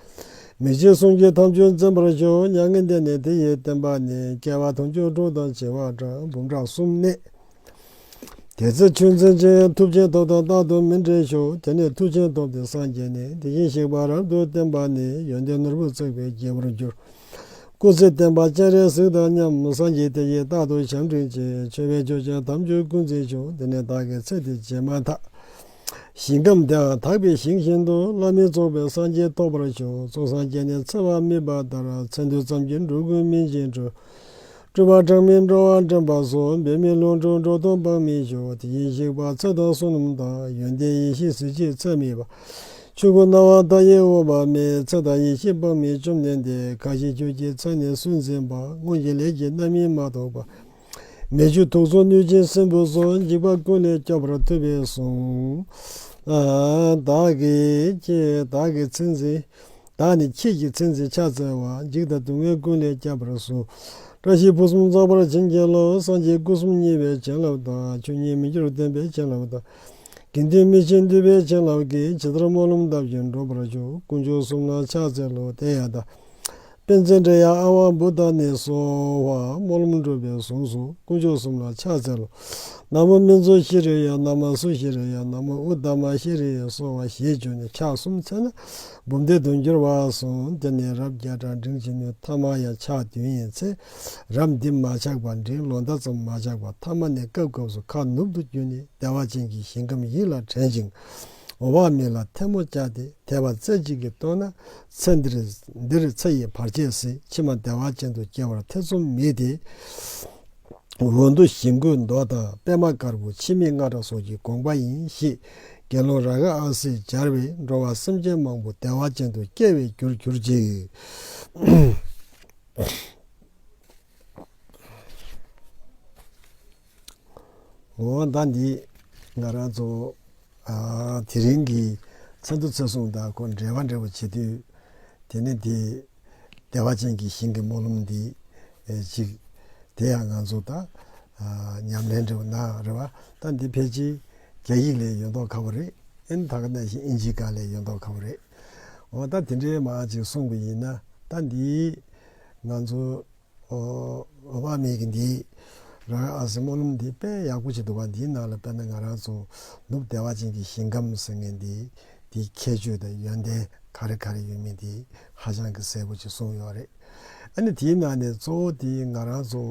མི་ཕྱེད་གསུང་རྒྱུན་ཐམས་ཅད་འཛིན་པར་བྱོན་མྱ་ངན་འདས་ནས་དེ་ཡི་བསྟན་པ་ནི་སྐྱེ་བ་དང་སྐྱོན་དྲུག་དང་བྱེ་བ་ཕྲག་འབུམ་ཕྲག་གསུམ་གནས། དེ་ཚེ་ཆོས་འཛིན་ཅིང་ཐུབ་ཆེན་ཐོབ་དང་རྟག་ཏུ་མི་འབྲལ་ཞོག་དེ་ནས་ཐུགས་ཆེན་ཐོབ་སྟེ་སངས་རྒྱས་ནས་དེ་བཞིན་གཤེགས་པ་རབ་ཏུ་བསྟན་པ་ནི་ཡོན་ཏན་ནོར་བུ་བརྩེགས་པའི་རྒྱལ་པོར་གྱུར། སྐུ་ཚེ་བརྟན་པ་སྤྱན་རས་གཟིགས་དང་མཉམ་སངས་རྒྱས་དེ་ཡིས་རྟག་ཏུ་བྱམས་སྤྲིན་ཅན་མཆོད་པས་ཆོས་ཅན་ཐམས་ཅད་ཀུན་འཛིན་བྱུང་དེ་ནས་བདག་གི་ཚེ་དེ་བྱས་མ་ཐག། ཞིང་ཁམས་དེའང་དག་པའི་ཞིང་བཞིན་དུ་བླ་མེད་རྫོགས་པའི་སངས་རྒྱས་ཐོབ་པར་བྱུང་གཙུག་སངས་རྒྱས་ནི་འཚེ་བ་མིད་པ་ལྟར་མཚན་ཐོས་ཙམ་གྱིས་འགྲོ་ཀུན་སྨིན་ཅིང་སྤྲུལ། སྤྲུལ་པ་གྲངས་མེད་འགྲོ་བ་འདྲེན་པ་སོགས་འབད་མེད་ལོངས་སྤྲུལ་འགྲོ་སྟོང་དཔག་མེད་བྱུང་དེ་བཞིན་གཤེགས་པ་ཚེ་དང་བསོད་ནམས་དང་ཡོན་ཏན་ཡེ་ཤེས་གཟི་བརྗིད་ཚད་མེད་པ། ཆོས་སྐུ་སྣང་བ་མཐའ་ཡས་འོད་དཔག་མེད་ཚེ་དང་ཡེ་ཤེས་དཔག་མེད་བཅོམ་ལྡན་འདས་གང་ཞིག་ཁྱོད་ཀྱི་མཚན་ནས་སུན་འབྱིན་པ་སྔོན་གྱི་ལས་ཀྱི་རྣམ་སྨིན་མ་གཏོགས་པ། མེ་ཆུ་དུག་གསུམ་གནོད་སྦྱིན་སྲིན་པོ་སོགས་འཇིགས་པ་ཀུན་ལས་སྐྱོབ་པར་ཐུབ་པས་གསུངས། བདག་གི་ཚེ་འཛིན། བདག་ནི་ཁྱེད་ཀྱི་ཚེ་འཛིན་ཕྱག་འཚལ་བ། འཇིགས་དང་སྡུག་བསྔལ་ཀུན་ལས་སྐྱབས་པར་གསོལ། བཀྲ་ཤིས་ཕུན་སུམ་ཚོགས་པར་བྱིན་གྱིས་རློབས། སངས་རྒྱས་སྐུ་གསུམ་མཉེས་པའི་བྱིན་རླབས་དང། ཆོས་ཉིད་མི་འགྱུར་བརྟན་པའི་བྱིན་རླབས་དང། དགེ་འདུན་མི་ཕྱེད་འདུས་པའི་བྱིན་རླབས་ཀྱིས་ཇི་ལྟར་སྨོན་ལམ་གདབ་ཅིང་འགྲུབ་པར་ཞུ། དཀོན་མཆོག་གསུམ་ལ་ཕྱག་འཚལ་ལོ། དེ་ཡང་བདག། དཔལ་ཆེན་དྲེགས་ཡང་ཨ་དབང་བུ་དང་ནི་སོགས། དམུ་ལམ་འགྲོ་བའི་གཟུངས་སུ་དཀོན་མཆོག་གསུམ་ལ་ཕྱག་འཚལ་ལོ། ན་མོ་སྨིན་མཚོ་ཤི་རི་ཡ་ན་མ་སུ་ཤི་རི་ཡ་ན་མོ་ཨུ་དྷ་མ་ཤི་རི་ཡ་སོགས་བ་ཞེས་བརྗོད་ནས་ཕྱག་གསུམ་འཚལ་ན་འབུམ་སྡེ་དུ་འགྱུར་བར་གསུངས་དེ་ནས་རབ་བརྒྱ་གྲངས་འབྲིང་ཅི་ནུས་ཐ་མ་ཡང་ཕྱག་བདུན་ཡིན་ཚེ་རབ་འདི་མ་ཆགས་པར་འབྲིང་ལོ་ཟླ་ཙམ་མ་ཆགས་པར་ཐ་མ་ནས་སྐབས་སྐབས་སུ་ཁ་ནུབ་ཏུ་བསྐྱུར་ནས་བདེ་བ་ཅན་གྱི་ཞིང་ཁམས་ཡིད་ལ་དྲན་ཅིང་འོང་བ་མིན་ལ་ཐལ་མོ་བཅག་སྟེ་དད་པ་རྩེ་གཅིག་གིས་བསྟོད་ན་ཚེ་འདིར་འདིར་ཚེ་ཡི་བར་ཆད་སྲིད་ཕྱི་མ་བདེ་བ་ཅན་དུ་སྐྱེ་བར་ཐེ་ཚོམ་མེད་དེ། འོག་ཏུ་ཞིང་བཀོད་མདོ་དང་པདྨ་དཀར་པོ་འཆི་མེད་རྔ་སྒྲ་སོགས་ཀྱི་དགོངས་པ་ཡིན་གཤིས། དགེ་སློང་ར་ག་ཨ་སིས་སྦྱར་བས་འགྲོ་བ་སེམས་ཅན་མང་པོ་བདེ་བ་ཅན་དུ་སྐྱེ་བའི་རྒྱུར་གྱུར་ཅིག། ངོ་བོ་ཟླ་འདིས་ང་རང་ཚོ་དེ་རིང་གི་ཚ་འདུ་ཚ་བསྲུང་དང་ཁོ་འབྲལ་བ་འབྲལ་བ་བྱེད་དུས། དེ་ནི་དེ་བདེ་བ་ཅན་གྱི་ཞིང་གི་སྨོན་ལམ་འདི་གཅིག་དེ་ཡང་ང་ཚོ་དང་ཉམས་ལེན་འབྲེལ་བ་ན་རེ་བ་ད་འདི་ཕལ་ཆེར་རྒྱ་ཡིག་ལས་ཡོད་མདོག་ཁ་བོ་རེད་ཨེན་ད་ག་ནས་བཞིན་ཨིན་ཇི་ག་ལས་ཡོད་མདོག་ཁ་བོ་རེད་འོ་ད་དེ་འདྲའི་མང་ཅིག་གསུངས་པ་ཡིན་ན་ད་འདི་ང་ཚོ་འོ་བ་མེད་ཀི་འདི། རང་རེ་ཨ་སི་སྨོན་ལམ་འདི་དཔེ་ཡག་པོ་ཞིག་འདུག་བ་འདིའི་ནང་ལ་དཔེར་ན་ང་རང་ཚོ་ནུབ་བདེ་བ་ཅན་གྱི་ཞིང་ཁམས་ཟེར་ངེས་འདི་འདིའི་ཁྱད་ཆོས་དང་ཡོན་ཏན་ག་རེ་ག་རེ་ཡོད་མེད་འདི་ཧ་ཅང་གི་གསལ་པོ་ཅིག་གསུངས་ཡོད་རེད་ཨ་ནི་དེའི་ནང་ནས་གཙོ་བོ་དེ་ང་རང་ཚོ་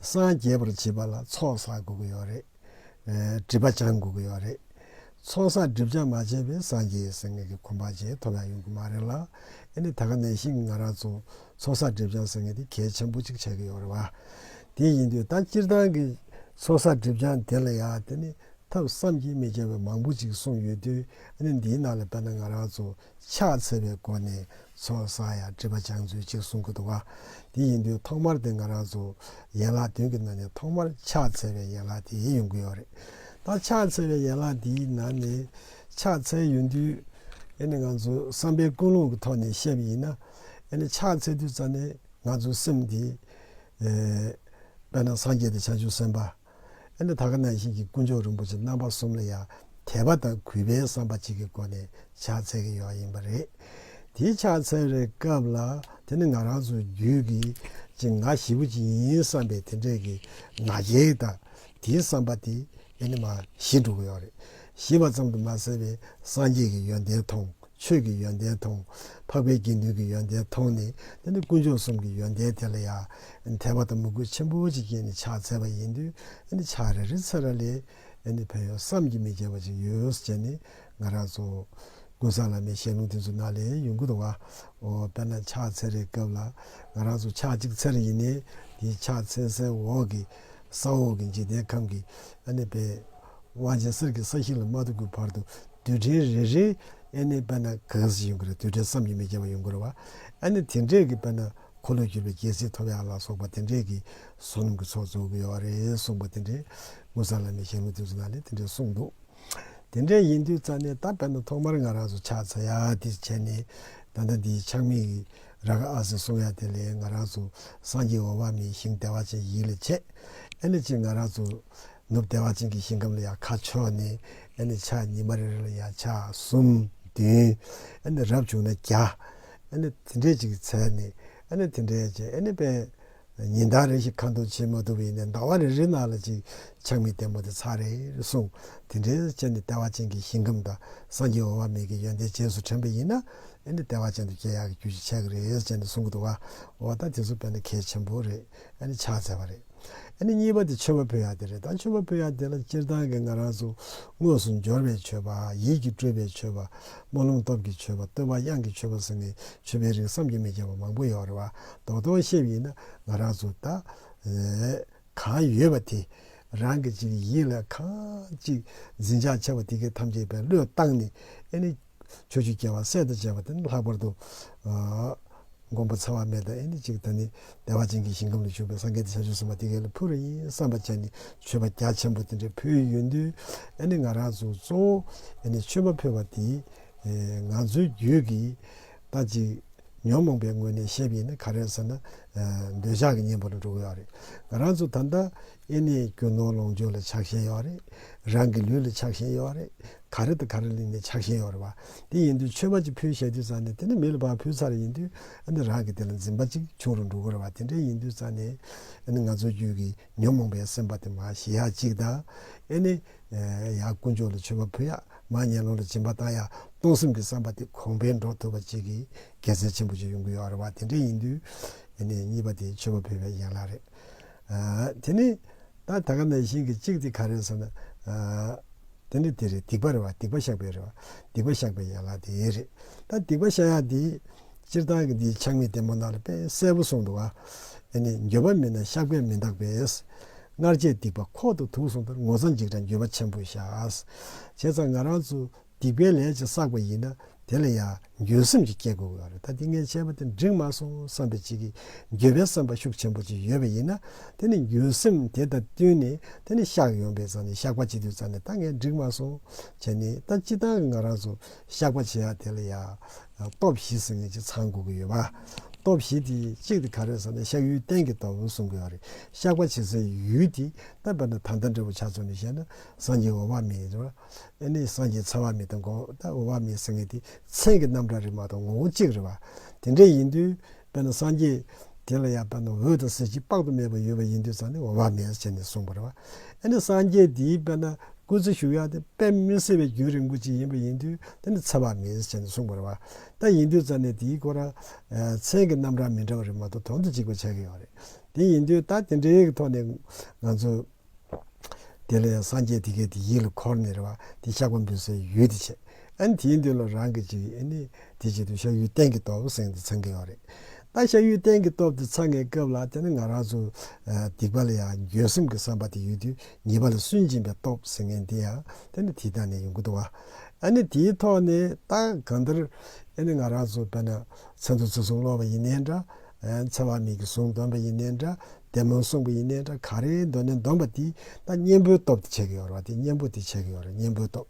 སངས་རྒྱས་པར་བྱེད་པ་ལ་ཚོགས་བསགས་དགོས་ཀྱི་ཡོད་རེད། སྒྲིབ་པ་སྦྱང་དགོས་ཀྱི་ཡོད་རེད། ཚོང་ས་སྒྲིབ་སྦྱང་མ་བྱས་པའི་སངས་རྒྱས་ཟེར་ངེས་ཀྱི་ཁོམ་པ་ཅན་ཐོབ་ཡག་ཡོང་གི་མ་རེད་ལ། ཨེ་ནི་ད་ག་ནས་ཤིག་ང་རང་ཚོ་ཚོང་ས་སྒྲིབ་སྦྱང་ཟེར་ངེས་དེ་གལ་ཆེན་པོ་གཅིག་ཆགས་ཀྱི་ཡོད་རེད་བ། དེ་ཡིན་དུས་ད་སྤྱིར་བཏང་གི་ཚོང་ས་སྒྲིབ་སྦྱང་དེ་ལ་ཡང་དེ་ནི་ཐབས་བསམ་གྱིས་མི་ཁྱབ་པའི་མང་པོ་ཅིག་གསུངས་ཡོད་དུས་ཨེ་ནི་འདིའི་ནང་ལ་དཔེར་ན་ང་རང་ཚོ་ཕྱག་འཚལ་བའི་སྒོ་ནས་ཚོགས་བསགས་ཡང་སྤྲུལ་པ་སྦྱང་ཚུལ་གཅིག་གསུང་གི་འདུག་ག་འདི་ཡིན་དུས་ཐོག་མར་དེ་ང་རང་ཚོ་ཡན་ལག་བདུན་གྱི་ནང་ནས་ཐོག་མར་ཕྱག་འཚལ་བའི་ཡན་ལག་དེ་ཡིན་ཡོང་གི་ཡོད་རེད་ད། ཕྱག་འཚལ་བའི་ཡན་ལག་འདིའི་ནང་ནས་ཕྱག་འཚལ་ཡོང་དུས་ཡེ་ནས་ང་ཚོ་བསམ་པའི་ཀུན་སློང་གི་ཐོག་ནས་བཤད་པ་ཡིན་ན་ཡེ་ནས་ཕྱག་འཚལ་དུས་རྩ་ནས་ང་ཚོའི་སེམས་དེ། དཔེར་ན་སངས་རྒྱས་དང་བྱང་ཆུབ་སེམས་དཔའ། ཨེ་ནི་ད་ག་ན་ཞིག་གི་དཀོན་མཆོག་རིན་པོ་ཆེ་རྣམ་པ་གསུམ་ལ་ཡང་དད་པ་དང་གུས་པའི་བསམ་པ་གཅིག་གི་སྒོ་ནས་ཕྱག་འཚལ་གྱི་ཡོད་ཡིན་པ་རེད། དེའི་ཕྱག་འཚལ་བའི་སྐབས་ལ་དེ་ནི་ང་རང་ཚོའི་རྒྱུད་ཀྱི་ཀྱི་ང་བཞི་པོ་གཅིག་ཡིན་བསམ་པའི་དེ་འདྲའི་གི་ང་རྒྱལ་དང་དེའི་བསམ་པ་དེ་ཨེ་ནི་མ་གཞི་འགྲོ་གི་ཡོད་རེད། ཞེས་པ་ཙམ་དུ་མ་ཟད་པའི་སངས་རྒྱས་ཀྱི་ཡོན་ཏན་མཐོང། ཆོས་ཀྱི་ཡོན་ཏན་དང། འཕགས་པའི་དགེ་འདུན་གྱི་ཡོན་ཏན་མཐོང་ནས་དེ་ནི་དཀོན་མཆོག་གསུམ་གྱི་ཡོན་ཏན་དེ་ལ་ཡང། དད་པ་དང་མོས་གུས་ཆེན་པོ་ཅིག་སྐྱེས་ནས་ཕྱག་འཚལ་བ་ཡིན་དུས། ཕྱག་རེ་རེ་ཚེ་ར་ལས། ཕན་ཡོན་བསམ་གྱིས་མི་ཁྱབ་པ་ཅིག་ཡོད་ཟེར་ནས་ང་རང་ཚོ། ཀུན་བཟང་བླ་མའི་ཞལ་ལུང་དེ་ཚོ་ནང་ལས་ཡོང་གི་འདུག་བ། དཔེར་ན་ཕྱག་འཚལ་རེའི་སྐབས་ལ། ང་རང་ཚོ་ཕྱག་གཅིག་འཚལ་རེ་ཡིན་ནས་དེའི་ཕྱག་འཚལ་སའི་འོག་གི། ས་འོག་གི་འཇིག་རྟེན་ཁམས་ཀྱི། དབང་ཆེན་གསེར་གྱི་ས་ཞིང་ལ་མ་ཐུག་གི་བར་དུ་རྡུལ་ཕྲན་རེ་རེ་ཨེ་ནི་དཔེར་ན་གངས་སུ་ཡོང་གི་རེད་རྡུལ་ཕྲན་བསམ་གྱིས་མི་ཁྱབ་པ་ཡོང་གི་རེད་བ་ཨེ་ནི་དེ་འདྲས་ཀྱི་དཔེར་ན་འཁོར་ལོས་བསྒྱུར་བའི་རྒྱལ་སྲིད་ཐོབ་ཡ་ལ་སོགས་པ་དེ་འདྲས་ཀྱི་བསོད་ནམས་ཀྱི་ཚོགས་རྫོགས་གི་ཡོད་བ་རེད་གསུངས་པ་དེ་འདྲས་དངུལ་ཟངས་བླ་མའི་ཞལ་ལུང་དེ་ཚོ་ན་ནས་དེ་འདྲས་གསུངས་འདུག་དེ་འདྲས་ཡིན་དུས་རྩ་ནས་ད་དཔེར་ན་ཐོག་མར་ང་རང་ཚོ་ཕྱག་འཚལ་ཡ་དེ་བྱས་ནས་ད་ལྟ་འདི་ཆགས་མེད་ཀྱི་ར་ག་ཨ་ཟེར་གསུངས་ཡ་དེ་ལས་ང་རང་ཚོ་སངས་རྒྱས་འོ་བ་མའི་ཞིང་བདེ་བ་ཅན་ཡིད་ལ་བྱས་ཨེ་ནི་ཅི་ང་རང་ཚོ་ནུབ་བདེ་བ་ཅན་གྱི་ཞིང་ཁམས་ལ་ཡང་ཁ་ཕྱོགས་ནས་ཨེ་ནི་ཕྱག་གཉིས་མ་རེ་རེ་ལ་ཡང་ཕྱག་གསུམ་བདུན་ཨེ་ནི་རབ་བྱུང་ན་བརྒྱ་ཨེ་ནི་དེ་འདྲའི་ཅིག་ཚལ་ནས་ཨེ་ནི་དེ་འདྲའི་ཅིག་ཨེ་ནི་པས། ཉི་ཟླ་རེ་ཞིག་ཁ་འདོགས་བྱེད་མ་ཐུབ་པའི་ནས་ཟླ་བ་རེ་རེའི་ནང་ལ་ཅིག་ཆང་མི་བརྟན་པོ་དེ་ཚར་རེ་རེ་སོང་དེ་འདྲའི་ཚེ་ནི་བདེ་བ་ཅན་གྱི་ཞིང་ཁམས་དང་སངས་རྒྱས་འོག་མ་མེད་ཀྱི་ཡོན་ཏན་རྗེས་སུ་དྲན་པ་ཡིན་ན་ཨེ་ནི་བདེ་བ་ཅན་དུ་སྐྱེ་ཡག་གི་རྒྱུ་ཞིག་ཆགས་ཀྱི་རེད་ཅེས་ནས་གསུང་གི་འདུག་བ། འོ་ད་དེ་ཚོ་བས་ན་གལ་ཆེན་པོ་རེད། ཨ་ནི་ཕྱག་འཚལ་བ་རེད། ཨ་ནི་གཉིས་པ་དེ་མཆོད་པ་ཕུལ་ཡག་དེ་རེད་ད་མཆོད་པ་ཕུལ་ཡག་དེ་ལ་སྤྱིར་བཏང་གི་ང་རང་ཚོ་དངོས་སུ་འབྱོར་བའི་མཆོད་པ་ཡིད་ཀྱི་སྤྲུལ་པའི་མཆོད་པ་རྨོ་ལུང་སྟོབས་ཀྱི་མཆོད་པ་བསྟོད་པ་དབྱངས་ཀྱི་མཆོད་པ་ཟེར་ནས་མཆོད་པའི་རིགས་བསམ་གྱི་མི་ཁྱབ་པ་མང་པོ་ཡོད་རེད་བ་རྡོག་རྡོག་གཤེབས་ཡིན་ན་ང་རང་ཚོ་ད་གང་ཡོད་པ་དེ་རང་གི་ཅིག་ཡིད་ལ་གང་ཅིག་འཛིན་ཆགས་ཆེ་བ་དེ་གས་ཐམས་ཅད་བན་བློས་བཏང་ནས་ཨ་ནི། ཆོས་ཀྱི་སྐྱེ་བ་སད་དུ་བཅད་པ་དེ་ནི་ལྷག་པར་དུ། མགོན་པོ་ཚེ་བར་མེད་དང་ཨེ་ནི་གཅིག་ད་ནི་བདེ་བ་ཅན་གྱི་ཞིང་ཁམས་ལ་བཞུགས་པའི་སངས་རྒྱས་ཏེ་བྱ་སྤྱོད་གསུམ་པ་དེ་ག་ལ་ཕུལ་བ་ཡིན་བསམ་པ་བྱས་ནས་མཆོད་པ་རྒྱ་ཆེན་པོ་དེ་འདྲ་ཕུལ་ཡོད་དུས་ཨེ་ནི་ང་རང་ཚོ་གཙོ་བོ་ཨེ་ནི་མཆོད་པ་ཕུལ་བ་དེ་ང་ཚོའི་རྒྱུད་ཀྱི་ད་ཅིག་ཉོན་མོངས་པའི་ངོས་ནས་བཤད་པ་ཡིན་ན་ག་རེ་ཟེར་ན་འདོད་ཆགས་ཀྱི་གཉེན་པོ་ལ་འགྲོ་གི་ཡོད་རེད་ང་རང་ཚོ་ད་ལྟ་ཨེ་ནི་རྒྱུ་ནོར་ལོངས་སྤྱོད་ལ་ཆགས་ཞེན་ཡོད་རེད་རང་གི་ལུས་ལ་ཆགས་ཞེན་ཡོད་རེད། ག་རེ་དང་ག་རེ་གླིང་ནས་ཆགས་ཞེན་ཡོང་རེད་བ། དེ་ཡིན་དུས་ཆོས་མ་ཅིག་ཕུལ་ཞེས་དུས་ཙང་ནས་དེ་ནི་མི་ལ་བག་ཕུལ་ཚར་རེ་ཡིན་དུས་ཨ་ནི་རང་གིས་དེ་ལ་འཛིན་པ་ཅིག་བྱུང་རུ་འགྲོ་གི་རེད་བ་དེ་འདྲའི་ཡིན་དུས་ཙང་ནས་ཨ་ནི་ང་ཚོ་རྒྱུད་ཀྱི་ཉོན་མོངས་པའི་སེམས་པ་དེ་མ་ཞི་ཡག་ཅིག་དང། ཨེ་ནི། ཡང་དཀོན་མཆོག་ལ་ཆོས་མ་ཕུལ་ཡག་མ་ངན་སློང་ལ་སྦྱིན་པ་བཏང་ཡག་སྟོང་སེམས་ཀྱི་བསམ་པ་དེ་གོང་འཕེལ་འགྲོ་ཐུབ་པ་ཅིག་གི་དགེ་མཚན་ཆེན་པོ་ཅིག་ཡོང་གི་ཡོད་རེད་བ་དེ་འདྲའི་ཡིན་དུས་ཨེ་ནི་གཉིས་པ་དེ་ཆོས་མ་ཕུལ་བའི་ཡན་ལག་རེད། དེ་ནི་ད་ད་ག་ནས་ཤིང་གི་གཅིག་དེ་ག་རེད་ཟེར་ན། དེ་ནི་དེ་རེད་སྡིག་པ་རེད་བ་སྡིག་པ་བཤགས་པའི་རེད་བ་སྡིག་པ་བཤགས་པའི་ཡན་ལག་དེ་རེད། ད་སྡིག་པ་བཤགས་ཡག་འདི་སྤྱིར་བཏང་གི་འདིའི་ཆགས་མེད་བདེ་མོ་ནང་ལ་དཔེ་གསལ་པོ་གསུངས་འདུག་ཨ། ནི་འགྱོད་པ་མེད་ན་བཤགས་པས་མི་འདག་པས། སྔར་བྱས་སྡིག་པ་ཁོག་ཏུ་དུག་གསུངས་ལྟར་ངོ་ཚ་འཇིགས་དང་འགྱོད་པ་ཆེན་པོས་བཤགས། བྱས་ཙང་ང་རང་ཚོ། སྡིག་པའི་ལས་ཀྱིས་བསགས་པ་ཡིན་ན་དེ་ལ་ཡང་འགྱོད་སེམས་ཀྱིས་བསྐྱེད་དགོས་པ་རེད་ད་དེ་ངས་བྱས་པ་དེ་འགྲིག་མ་སོང་བསམ་པའི་ཅིག་འགྱོད་པའི་བསམ་པ་ཤུགས་ཆེན་པོ་ཅིག་ཡོད་པ་ཡིན་ན་དེ་ནི་འགྱོད་སེམས་དེ་དང་བསྟུན་ནས་དེ་ནི་བཤགས་ཡོང་པའི་རྩ་ནས་བཤགས་པ་བྱེད་དུས་རྩ་ནས་ད་ངས་འགྲིག་མ་སོང་བྱས་ནས་ད་སྤྱི་བཏང་གི་ང་རང་ཚོ་བཤགས་པ་བྱེད་ཡ་དེ་ལ་ཡང་སྟོབས་བཞི་ཟེར་ངེས་ཅིག་ཚང་དགོས་ཀྱི་ཡོད་པ་སྟོབས་བཞི་དེ་གཅིག་དེ་ག་རེད་ཟེར་ན་བཤགས་ཡུལ་གཏན་གྱི་ལྟ་བུ་གསུང་དགོས་ཡ་རེད་བཤགས་པ་བྱེད་སའི་ཡུལ་དེ་ད་དཔེར་ན་ད་ལྟ་འདྲ་བོ་ཆ་ཚང་ནས་བཤད་ན་སངས་རྒྱས་འོ་མ་མེད་ཨེ་ནས་སངས་རྒྱས་ཚ་བ་མེད་དང་འགོ་བ་བ་མེད་ཟེར་ངེས་དེ་མཚན་གྱི་རྣམ་གྲངས་རིག་མ་དང་ངོ་བོ་གཅིག་རེད་བ། དེ་འདྲ་ཡིན་དུས་དཔེར་ན་སངས་རྒྱས་དེ་ལ་ཡང་དཔེར་ན་འོད་དང་གསལ་བྱེད་དཔག་ཏུ་མེད་པ་ཡོད་པ་ཡིན་དུས་ཙང་ནི་བ་མེད་བྱས་ནས་གསུངས་པ་རེད་བ། ཨེ་ནས་སངས་རྒྱས་དེའི་དཔེར་ན་སྐུ་ཚེ་ཞུགས་ཡག་སྟེ་དཔེ་མི་གསལ་བའི་རྒྱུན་རིང་པོ་ཅིག་ཡིན་པ་ཡིན་དུས་དེ་ནི་ཚ་བ་མེད་བྱས་ནས་གསུངས་པ་རེད་བ། ད་ཡིན་དུས་ཙང་ནི་དེའི་སྐོར་ལ་མཚན་གྱི་རྣམ་གྲངས་མི་འདྲ་བ་རིག་མ་དང་དོན་དུ་གཅིག་པ་ཆགས་ཀྱི་ཡོད་རེད། དེ་ཡིན་དུས་ད་དེ་འདྲའི་ཐོག་ནས་ང་ཚོས། དེ་ལ་ཡང་སངས་རྒྱས་དེ་སྐད་དེ་ཡིད་ལ་འཁོར་ནས་རེ་བ་དེ་བཤགས་པ་འབུལ་སའི་ཡུལ་དེ་བྱེད་ཨ་ནི་དེའི་མདུན་ལ་རང་གི་ཅིག་ཨ་ནི་དེ་བྱེད་དུ་བཤགས་ཡུལ་གཏན་གྱི་སྟོབས་གསེང་དུ་འཚང་གི་ཡོད་རེད་ད་བཤགས་ཡུལ་གཏན་གྱི་སྟོབས་དེ་འཚང་ངའི་སྐབས་ལ་དེ་ནི་ང་རང་ཚོ་སྡིག་པ་ལ་ཡང་འགྱོད་སེམས་ཀྱི་བསམ་པ་དེ་ཡོད་དུས་ཉེས་པ་ལ་སུན་འབྱིན་པའི་སྟོབས་ཟེར་མཁན་དེ་ཡང་དེ་ནི་དེ་དང་ནི་ཡོང་གི་འདུག་བ་ཨ་ནི་དེའི་ཐོག་ནས་ད་གང་ལྟར་ཨ་ནི་ང་རང་ཚོ་བལྟས་ན་མཚན་དུ་ཚེ་གཟུངས་སློབ་པ་ཡིན་ནའི་འདྲ། འཚེ་བ་མེད་ཀྱི་གཟུངས་འདོན་པ་ཡིན་ནའི་འདྲ། བདེ་མོ་གསུངས་པ་ཡིན་ནའི་འདྲ་ག་རེའི་མདོ་ནས་འདོམས་པ་དེ་ད་གཉེན་པོའི་སྟོབས་དེ་བྱེད་ཀྱི་ཡོད་རེད་བ་དེ་གཉེན་པོ་དེ་བྱེད་ཀྱི་ཡོད་རེད་གཉེན་པོའི་སྟོབས་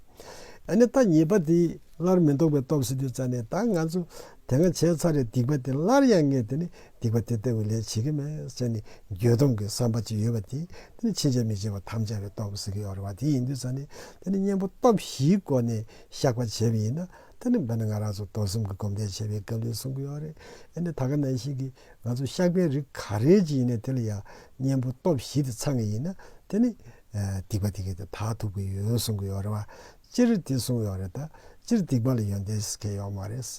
ཨ་ནི་ད་ཉེས་པ་དེ་སླར་མི་འདོགས་པའི་སྟོབས་སེ་དུས་ཙཱ་ནས་ད་ང་ཚོ་དེ་འང་བྱས་ཚར་རེད་སྡིག་པ་དེ་སླར་ཡང་ངས་དེ་ནི་སྡིག་པ་དེ་ལྟ་བུའི་ལས་བྱེད་ཀྱི་མེད་ཅེས་ནི་འགྱོད་གདུང་གི་བསམ་པ་ཅིག་ཡོད་པ་དེ་དེ་ནི་ཕྱིན་ཆད་མི་བྱེད་པར་དམ་བཅའ་བའི་སྟོབས་ཟེར་གྱི་ཡོད་རེད་བ་དེ་ཡིན་དུས་ཙཱ་ནས་དེ་ནི་གཉེན་པོ་སྟོབས་བཞིའི་སྒོ་ནས་བཤགས་པ་བྱས་པ་ཡིན་ན་དེ་ནི་འབད་ན་ང་རང་ཚོ་རྡོར་གསུམ་གྱི་སྒོམ་བཟླས་བྱེད་པའི་སྐབས་ལས་གསུང་གི་ཡོད་རེད། ཨེ་ནས་ད་ག་ནང་བཞིན་གྱི་ང་ཚོ་ཤག་པའི་རིགས་ག་རེ་ཅིག་ཡིན་ན་དེ་ལ་ཡང་གཉེན་པོ་སྟོབས་བཞི་དེ་ཚང་གི་ཡིན་ན་དེ་ནི། སྡིག་པ་དེ་གས་དེ་དག་ཐུབ་ཀྱི་ཡོད་གསུང་གི་ཡོད་རེད་བ། སྤྱིར་དེ་གསུང་ཡོད་རེད་ད། སྤྱིར་སྡིག་པ་ལ་ཡོན་ཏན་ཁྱད་ཡོད་མ་རེད།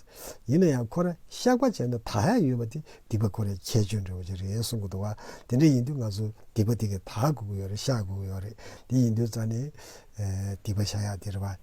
ཡིན་ན་ཡང་ཁོ་ར་ཤག་པ་བྱས་ན་ད་ཧད་ཡོད་པ་དེ་སྡིག་པ་ཁོ་རའི་ཁྱད་ཆོས་འདྲ་བོ་ཅིག་རེད་གསུང་གི་འདུག་བ། དེ་འདྲ་ཡིན་དུས་ང་ཚོ་སྡིག་པ་དེ་གས་ད་གོ་གི་ཡོད་རེད་ཤག་གོ་གི་ཡོད་རེད་དེ་ཡིན་དུས་རྩ་ནས། སྡིག་པ་བྱ་ཡག་དེ་རེད་བ།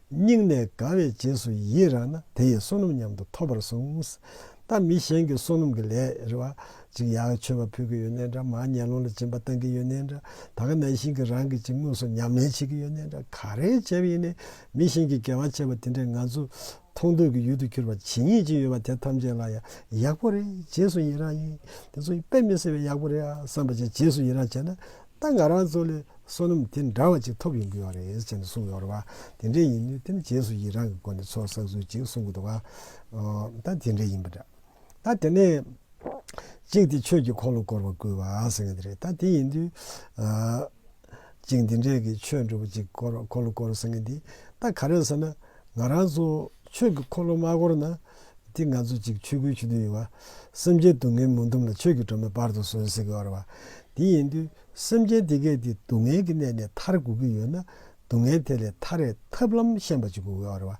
སྙིང་ནས་དགའ་བའི་རྗེས་སུ་ཡིད་རང་ན་དེ་ཡི་བསོད་ནམས་མཉམ་དུ་ཐོབ་པར་གསུངས། ད་མི་གཞན་གྱི་བསོད་ནམས་ཀྱི་ལས་རེ་བ་ཅིག་ཡག་མཆོད་པ་ཕུལ་གྱི་ཡོད་ནའི་འདྲ་མར་ཉལ་ལོང་ལ་སྦྱིན་པ་བཏང་གི་ཡོད་ནའི་འདྲ་ད་ག་ནང་བཞིན་གྱི་རང་གི་ཅིག་དངོས་སུ་ཉམས་ལེན་བྱེད་ཀྱི་ཡོད་ནའི་འདྲ་ག་རེ་བྱས་པ་ཡིན་ནའི་མི་གཞན་གྱི་དགེ་བ་བྱས་པ་དེ་འདྲས་ང་ཚོ་མཐོང་ཐོས་ཀྱི་ཡུལ་དུ་གྱུར་པ་ཇི་སྙེད་ཅིག་ཡོད་པ་དེ་ཐམས་ཅད་ལ་ཡང་ཡག་པོ་རེད་རྗེས་སུ་ཡིད་རང་ཡིན་དེ་ཚོ་དཔེ་མི་སྲིད་པས་ཡག་པོ་རེད་ཨ་བསམ་པ་བྱས་རྗེས་སུ་ཡིད་རང་བྱས་ན་ད་ང་རང་ཚོ་ལས་བསོད་ནམས་དེ་འདྲ་བ་ཅིག་ཐོབ་ཡོང་གི་ཡོད་རེད་ཅེས་གསུངས་ཡོད་རེད་བ། དེ་འདྲས་ཡིན་དུས་དེ་ནི་རྗེས་སུ་ཡི་རང་གི་སྒོ་ནས་ཚོགས་བསགས་ཚུལ་ཅིག་གསུང་གི་འདུག་བ། ད་དེ་འདྲས་ཡིན་པ་འདྲ། ད་དེ་ནས། གཅིག་དེ་ཆོས་ཀྱི་འཁོར་ལོ་བསྐོར་བར་བསྐུལ་བ་ཟེར་གྱི་འདི་རེད་ད་དེ་ཡིན་དུས། གཅིག་འདི་འདྲས་ཀྱི་ཆོས་འགྲུབ་པ་ཅིག་འཁོར་ལོ་བསྐོར་ཟེར་གྱི་འདི་ད་ག་རེད་ཟེར་ན། ང་རང་ཚོ་ཆོས་ཀྱི་འཁོར་ལོ་མ་བསྐོར་ན། འདི་ང་ཚོ་གཅིག་ཆོས་སྐུའི་ཆུ་འཐུང་ཡིན་བ། སེམས་ཅན་སྡུག་བསྔལ་མུན་དུམ་ལ་ཆོས་ཀྱི་སྒྲོན་མེ་སྤར་དུ་སོན་ཟིག་ཨོ་རེ་བ། དེ་ཡིན་དུས་སེམས་ཅན་འདི་གས་འདི་སྡུག་བསྔལ་གྱི་གནས་ནས་ཐར་དགོས་ཀྱི་ཡོད་ན་སྡུག་བསྔལ་དེ་ལས་ཐར་བའི་ཐབས་ལམ་ཤེས་པ་ཅིག་དགོས་གི་ཨོ་རེ་བ།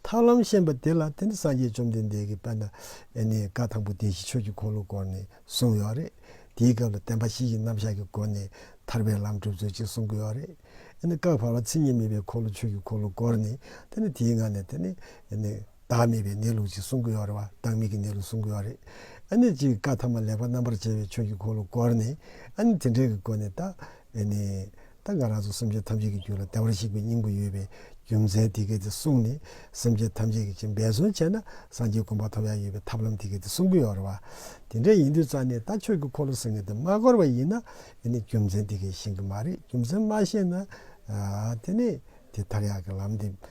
ཐབས་ལམ་ཤེས་པ་དེ་ལ་དེ་ནི་སངས་རྒྱས་བཅོམ་ལྡན་འདས་ཀྱིས་དཔལ་ནཱ་ལེནྜའི་བཀའ་དང་པོ་བདེན་བཞི་ཆོས་ཀྱི་འཁོར་ལོ་སྐོར་ནས་གསུངས་ཡོད་རེད། དེའི་སྐབས་ལ་བདེན་པ་བཞི་ཡི་རྣམ་གཞག་གི་སྒོ་ནས་ཐར་པའི་ལམ་སྒྲུབ་ཚུལ་གཅིག་གསུང་གི་ཡོད་རེད། ཨེ་ནི་སྐབས་བར་བ་ཚིག་གཉིས་མེད་པའི་འཁོར་ལོ་ཆོས་ཀྱི་འཁོར་ལོ་སྐོར་ནས་དེ་ནི་དེའི་ངང་ནས་དེ་ནི། བདག་མེད་པའི་གནས་ལུགས་ཅིག་གསུང་གི་ཡོད་རེད་བ་བདག་མེད་ཀྱི་གནས་ལུགས་གསུང་གི་ཡོད་རེད་ཨ་ནི་གཅིག་བཀའ་ཐ་མ་ལེགས་པ་རྣམ་པར་འབྱེད་པའི་ཆོས་ཀྱི་འཁོར་ལོ་བསྐོར་ནས་ཨ་ནི་དེ་འདྲའི་གི་སྒོ་ནས་ད་ནི་ད་ང་རང་ཚོ་སེམས་ཅན་ཐམས་ཅད་ཀྱི་རྒྱུད་ལ་བདེ་བར་གཤེགས་པའི་སྙིང་པོ་ཡོད་པའི་རྒྱུ་མཚན་དེ་གས་དེ་གསུངས་ནས་སེམས་ཅན་ཐམས་ཅད་ཀྱི་ཅིག་འབད་བརྩོན་བྱས་ན་སངས་རྒྱས་གོམ་པ་ཐོབ་ཡ་ཡོད་པའི་ཐབས་ལམ་དེ་གས་དེ་གསུང་གི་ཡོད་རེད་བ་དེ་འདྲ་ཡིན་དུས་རྩ་ནས་ད་ཆོས་ཀྱི་འཁོར་ལོ་ཟེར་ནས་དེ་མ་བསྐོར་བ་ཡིན་ན་དེ་ནི་རྒྱུ་མཚན་དེ་གས་ཤེས་གི་མ་རེད་རྒྱུ་མཚན་མ་ཤེས་ན་དེ་ནི་དེ་ཐག་ཡག་གི་ལམ་དེ།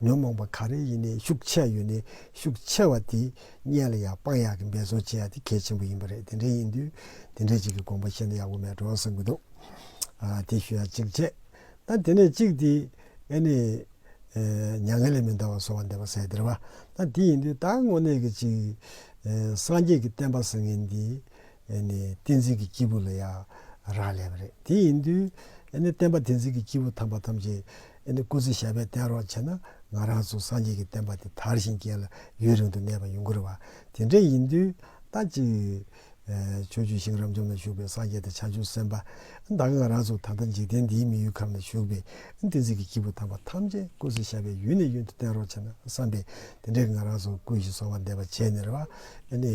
ཉོན་མོངས་པ་ག་རེ་ཡིན་ནའི་ཤུགས་ཆེ་ཡོད་ནའི་ཤུགས་ཆེ་བ་དེ་གཉེན་ལ་ཡང་དཔང་ཡག་གི་འབད་བརྩོན་བྱེད་ཡག་དེ་གལ་ཆེན་པོ་ཡིན་པ་རེད་དེ་འདྲའི་ཡིན་དུས་དེ་འདྲའི་ཅིག་གི་དགོངས་པ་བཤད་ན་ཡག་པོ་མེད་འགྲོ་བསམ་གྱི་འདུག་དེ་ཞུ་ཡག་ཅིག་བྱས་ན་དེ་ནས་གཅིག་དེ་ཨེ་ནས་མྱ་ངན་ལས་མི་འདའ་བ་གསོ་བ་འདེབས་པ་ཟེར་དེར་བ་ན་དེ་ཡིན་དུས་ད་དངོས་གནས་ཀྱི་ཅིག་སངས་རྒྱས་ཀྱི་བསྟན་པ་ཟེར་མཁན་དེ་ཨེ་ནས་བསྟན་འཛིན་གྱི་སྐྱེས་བུ་ལ་ཡང་རག་ལས་པ་རེད་དེ་ཡིན་དུས་ཨེ་ནས་བསྟན་པ་བསྟན་འཛིན་གྱི་སྐྱེས་བུ་ཐམས་པ་ཐམས་ཅད་ཨེ་ནི་སྐུ་ཚེ་ཞབས་པད་བརྟན་རོགས་བྱས་ན་ང་རང་ཚོ་སངས་རྒྱས་ཀྱི་བསྟན་པ་འདི་དར་ཞིང་རྒྱས་ལ་ཡུན་རིང་དུ་གནས་པ་ཡོང་གི་རེད་བ། དེ་འདྲ་ཡིན་དུས་ད་ཅིག་ཆོས་རྒྱུད་ཤིང་རབ་འབྱམས་ན་བཞུགས་པའི་སངས་རྒྱས་དང་བྱང་ཆུབ་སེམས་དཔའ་དག་ང་རང་ཚོ་ད་ལྟ་འཇིག་རྟེན་འདིའི་མི་ཡུལ་ཁམས་ན་བཞུགས་པའི་བསྟན་སྲིད་ཀྱི་སྐྱེས་བུ་དམ་པ་ཐམས་ཅད་སྐུ་ཚེ་ཞབས་པད་ཡུན་ནས་ཡུན་དུ་བརྟན་རོགས་བྱས་ན་བསམ་པས་དེ་འདྲའི་ང་རང་ཚོ་ཀུན་གཞི་གསོ་བ་འདེབས་པ་བྱས་ནས་རེད་བ། ཨེ་ནི།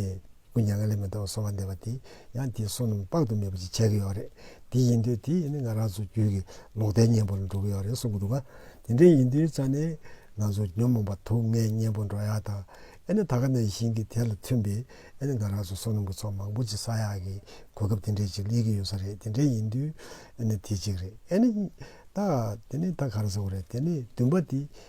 སྐུ་མྱ་ངན་ལས་མི་ཐོག་གསོལ་བ་འདེབས་པ་དེ་ཡང་དེའི་བསོད་ནམས་དཔག་ཏུ་མེད་པ་ཞིག་བྱས་ཀྱི་ཡོད་རེད། དེ་ཡིན་དུས་དེ་ཡིན་ན་ང་རང་ཚོ་རྒྱུད་ཀྱི་ལོག་ལྟའི་གཉེན་པོར་འགྲོ་གི་ཡོད་རེད་གསུང་གི་འདུག་ག། དེ་འདྲ་ཡིན་དུས་ཙང་ནས་ང་ཚོ་ཉོན་མོངས་པ་དུག་ལྔའི་གཉེན་པོར་འགྲོ་ཡག་དང། ཨེ་ནི་ད་ག་ནས་བཞིན་གྱི་དེ་ལ་མཐུན་པའི་ཨེ་ནི་ང་རང་ཚོ་བསོད་ནམས་ཀྱི་ཚོགས་མང་པོ་ཅིག་བསགས་ཡག་གི་གོ་སྐབས་དེ་འདྲའི་ཅིག་སླེབས་ཀྱི་ཡོད་ས་རེད་དེ་འདྲ་ཡིན་དུས་ཨེ་ནི་དེ་གཅིག་རེད་ཨེ་ནི། ད་དེ་ནི་ད་ག་རེ་ཟེར་བ་རེད་དེ་ནི་བདུན་པ་དེ་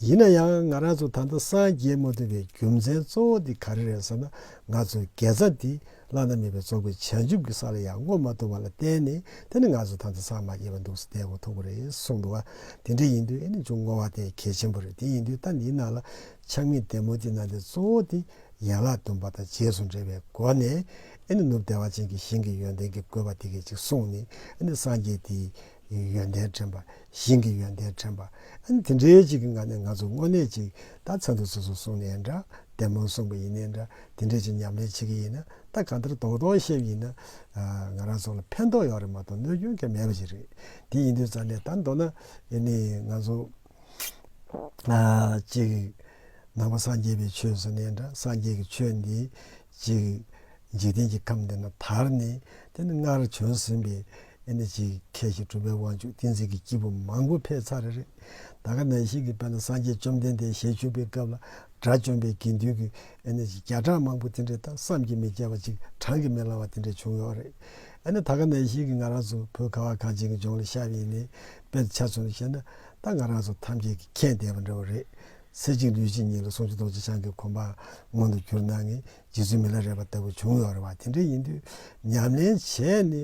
ཡིན་ན་ཡང་ང་རང་ཚོ་ད་ལྟ་སངས་རྒྱས་མ་ཐུབ་པའི་རྒྱུ་མཚན་གཙོ་བོ་དེ་ག་རེ་རེད་ཟེར་ན་ང་ཚོའི་དགེ་རྩ་དེ་བླ་ན་མེད་པའི་རྫོགས་པའི་བྱང་ཆུབ་ཀྱི་ས་ལ་ཡང་བསྔོ་མ་ཐུབ་པ་ལ་བརྟེན་ནས་དེ་ནི་ང་ཚོ་ད་ལྟ་སངས་མ་རྒྱས་པར་འདུག་ཟེར་བདེ་བོ་ཐོབ་ཀྱི་རེད་གསུངས་འདུག་དེ་འདྲ་ཡིན་དུས་ཨེ་ནི་ཅུང་བསྔོ་བ་དེ་གལ་ཆེན་པོ་རེད་དེ་ཡིན་དུས་ད་འདིའི་ནང་ལ་ཆགས་མེད་བདེ་མོ་དེ་ནང་དེ་གཙོ་བོ་དེ་ཡན་ལག་བདུན་པ་དང་རྗེས་སུ་འབྲེལ་བའི་སྒོ་ནས་ཨེ་ནི་ནུབ་བདེ་བ་ཅན་གྱི་ཞིང་གི་ཡོན་ཏན་གྱི་བཀོད་པ་དེ་གས་ཅིག་གསུངས་ནས་ཨེ་ནི་སངས་རྒྱས་དེའི་ཡོན་ཏན་དྲན་པ་ཞིང་གི་ཡོན་ཏན་དྲན་པ། དེ་འདྲའི་གཅིག་གི་ངང་ནས་ང་ཚོ་དངོས་གནས་གཅིག་ད་ཚ་འདུག་སོ་སོ་གསུངས་ནས་འདྲ་བདེ་མོ་གསུངས་པ་ཡིན་ནས་འདྲ་དེ་འདྲའི་གཅིག་ཉམས་ལེན་བྱེད་ཀྱི་ཡིན་ན་ད་གང་ལྟར་དོགས་དོགས་ཤེས་ཡིན་ན། ང་རང་ཚོ་ལ་ཕན་ཐོགས་ཡོད་རེད་མ་གཏོགས་གནོད་སྐྱོན་གལ་མེད་པ་ཞིག་རེད་དེ་ཡིན་དུས་ཙང་ནས་ད་མདོར་ན་ནི་ང་ཚོ་གཅིག་ནང་པ་སངས་རྒྱས་པའི་ཆོས་སུ་ནས་འདྲ་སངས་རྒྱས་ཀྱི་ཆོས་འདི། ཅིག། འཇིག་རྟེན་གྱི་ཁམས་འདི་ན་དར་ནི་དེ་ནི་སྔར་བྱོན་ཟིན་པའི། ཅིག། མཁས་ཤིང་གྲུབ་པའི་དབང་ཕྱུག་ཏིང་འཛིན་གྱི་སྐྱེས་བུ་མང་པོ་ཕེབས་ཚར་རེད། ད་ག་ནང་བཞིན་གྱི་དཔལ་ན་སངས་རྒྱས་བཅོམ་ལྡན་འདས་ཞལ་བཞུགས་པའི་སྐབས་ལ་དགྲ་བཅོམ་པའི་དགེ་འདུན་གྱི། ཅིག་བརྒྱ་ཕྲག་མང་པོ་དེ་འདྲའི་ད་བསམ་གྱིས་མི་ཁྱབ་པ་ཅིག་བགྲང་གིས་མི་ལང་བ་དེ་འདྲ་བྱུང་ཡོད་རེད། ད་ག་ནང་བཞིན་གྱི་ང་རང་ཚོ་བོད་ཁ་བ་གངས་ཅན་གྱི་ལྗོངས་ལ་ཤར་ཡིན་ནའི་དཔེར་ཆ་ཚུལ་ནས་བཤད་ན་ད་ང་རང་ཚོ་ཐམས་ཅད་ཀྱི་མཁྱེན་ལྡན་པ་འདྲ་བོ་རེད། གསེར་གཅིག་ལུས་གཅིག་ཉིད་ལ་སྲུང་བྱེད་རྡོ་རྗེ་འཆང་གི་གོམ་པ་མངོན་དུ་གྱུར་ན་ནི་རྗེ་བཙུན་མི་ལ་རས་པ་ལྟ་བུ་བྱུང་ཡོད་རེད་བ་དེ་འདྲ་ཡིན་དུས་ཉམས་ལེན་བྱས་ནི་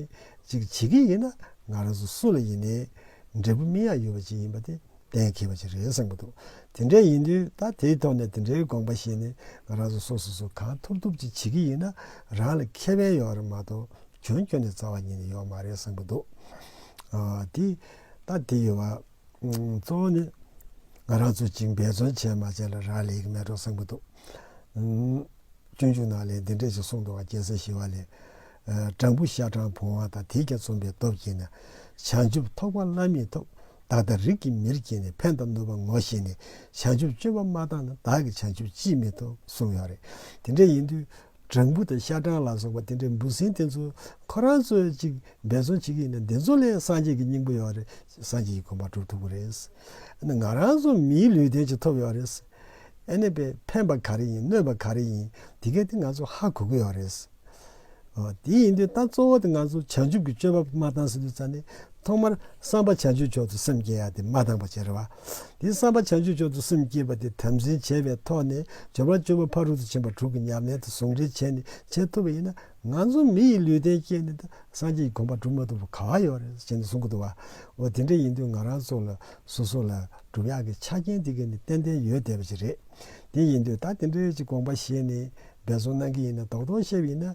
ཅིག་བྱེད་ཀྱི་ཡིན་ན་ང་རང་ཚོ་སུ་ལ་ཡིན་ནའི་འབྲས་བུ་སྨིན་ཡག་ཡོད་པ་ཅིག་ཡིན་པ་དེ་གཏན་འཁེལ་བ་ཅིག་རེད་བསམ་གྱི་འདུག་དེ་འདྲ་ཡིན་དུས་ད་དེའི་ཐོག་ནས་དེ་འདྲའི་དགོངས་པ་བཞེས་ནི་ང་རང་ཚོ་སོ་སོ་སུ་གང་ཐུབ་ཐུབ་ཅིག་བྱེད་ཀྱི་ཡིན་ན་རང་ལ་ཁེ་ཕན་ཡོད་རེད་མ་གཏོགས་གྱོན་གྱོན་ནས་རྩ་བ་ཉིད་ནས་ཡོད་མ་རེད་བསམ་གྱི་འདུག་དེ་ད་དེ་ཡོད་བ། གཙོ་བོ་ནི་ང་རང་ཚོ་གཅིག་འབད་བརྩོན་བྱས་མ་བྱས་ལ་རག་ལས་ཀྱི་མེ་ཏོག་སྲིན་པོ་འདུག། སྤྱོད་འཇུག་ནང་ལས་འདི་འདྲས་ཞིག་གསུངས་འདུག་བ་སྐྱེ་སར་ཤི་བ་ལས། སྦྲང་བུ་ཤ་སྦྲང་བུང་བ་དང་དེའི་རྒྱ་མཚུངས་པའི་སྟོབས་ཀྱིས་ནི། བྱང་ཆུབ་ཐོགས་པ་བླ་མེད་ཐོབ། བདག་དང་རིགས་ཀྱི་མིར་སྐྱེས་ནས་ཕན་དང་ནུས་པ་ངོ་ཤེས་ནས་བྱང་ཆུབ་སྤྱོད་པ་མ་བཏང་ན་བདག་གི་བྱང་ཆུབ་ཅིས་མི་ཐོབ་གསུངས་ཡོད་རེད། དེ་འདྲས་ཡིན་དུས་སྦྲང་བུ་དང་ཤ་སྦྲང་ལ་སོགས་པ་དེ་འདྲའི་འབུ་སྲིན་དེ་ཚོ་ཁོ་རང་ཚོས་ཅིག་འབད་བརྩོན་བྱེད་ཀྱི་ཡིན་ན་དེ་ཚོ་ལས་སངས་རྒྱས་ཀྱི་སྙིང་པོ་ཡོད་རེད་སངས་རྒྱས་ཀྱི་གོམ་པ་བསྒྲུབ་ཐུབ་ཀྱི་རེད། ཨ་ནི་ང་རང་ཚོ་མིའི་ལུས་རྟེན་ཅིག་ཐོབ་ཡོད་རེད། ཨ་ནི་བས་ཕན་པ་ག་རེ་ཡིན་གནོད་པ་ག་རེ་ཡིན་དེ་གའི་སྟེང་ང་ཚོ་ཧ་གོ་གི་ཡོད་རེད། དེ་ཡིན་དུས་ད་གཙོ་བོ་དེ་ང་ཚོ་བྱང་ཆུབ་ཀྱི་སྤྱོད་པ་མ་བཏང་ཟིན་དུས་ཙཱ་ནས་ཐོག་མར་བསམ་པ་བྱང་ཆུབ་མཆོག་ཏུ་སེམས་བསྐྱེད་ཡ་དེ་མ་བཏང་པ་བྱས་རེད་བ། དེའི་བསམ་པ་བྱང་ཆུབ་མཆོག་ཏུ་སེམས་བསྐྱེད་པ་དེ་དམ་འཛིན་བྱས་པའི་ཐོག་ནས་སྦྱོར་བ་བཅུ་པོ་ཕ་རོལ་ཏུ་ཕྱིན་པ་དྲུག་གི་ཉམས་ལེན་དང་ཟུང་འབྲེལ་བྱས་ནས་བྱེད་ཐུབ་པ་ཡིན་ན་ང་ཚོ་མི་ཡི་ལུས་རྟེན་བསྐྱེད་ནས་ད་སངས་རྒྱས་ཀྱི་དགོངས་པ་སྒྲུབ་མ་ཐུབ་པ་ག་བ་ཡོད་རེད་ཅེས་ནས་གསུང་གི་འདུག་བ། འོ་དེ་འདྲ་ཡིན་དུས་ང་རང་ཚོ་ལ་སོ་སོ་ལ་སྒྲུབ་ཡག་གི་ཆ་རྐྱེན་དེ་ག་ནི་ཏན་ཏན་ཡོད་བསྡད་པ་ཞིག་རེད། དེ་ཡིན་དུས་ད་དེ་འདྲའི་ཅིག་དགོངས་པ་བཞེས་ནས་འབད་བརྩོན་གནང་གི་ཡིན་ན་རྡོག་རྡོག་བཤད་པ་ཡིན་ན་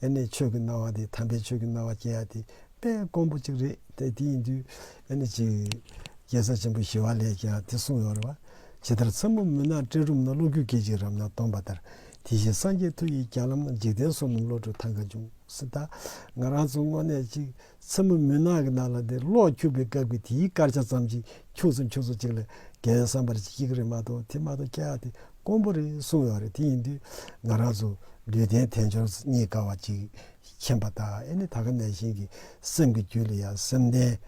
ཡེ་ནས་ཆོས་ཀྱི་སྣང་བ་དེ་དམ་པའི་ཆོས་ཀྱི་སྣང་བ་སྐྱེ་བ་དེ་དཔེ་དཀོན་པོ་གཅིག་རེད་དེ་ཡིན་དུས་ཡེ་ནས་གཅིག། རྒྱལ་བཟང་ཆེན་པོ་ཞི་བ་ལས་ཀྱང་དེ་གསུངས་ཡོད་རེད་བ། ཇི་ལྟར་མཚན་མོ་མུན་ནག་སྤྲིན་རུམ་ན་གློག་འགྱུ་སྐད་ཅིག་རབ་ན་སྟོང་པ་ལྟར་དེ་བཞིན་སངས་རྒྱས་མཐུ་ཡིས་བསྐྱངས་ལམ་ན་འཇིག་རྟེན་སོ་ནམ་བློ་གྲོས་ཐང་ག་འབྱུང་སྲིད་ད། ང་རང་ཚོ་དངོས་གནས་གཅིག། མཚན་མོ་མུན་ནག་གི་ནང་ལ་དེ་གློག་འཁྱུག་པའི་སྐབས་ཀྱི་དེའི་སྐར་ཆ་ཙམ་ཅིག་འཁྱུག་སོང་འཁྱུག་སོང་ཅིག་ལ་རྒན་བསམ་པར་ཅིག་ཅིག་རེད་མ་གཏོགས་དེ་མ་གཏོགས་ཁྱེད་ཨ་དེ་དཀོན་པོ་རེད་གསུངས་ཡོད་རེད་དེ་ཡིན་དུས་ང་རང་ཚོ་ལུས་རྟེན་དལ་འབྱོར་རྙེད་དཀའ་བ་ཅིག་མཁྱེན་པ་དང་ཨེ་ནི་ད་ག་ནས་གཞན་གྱི་སེམས་ཀྱི་རྒྱུད་ལ་ཡང་སེམས་ལྡན་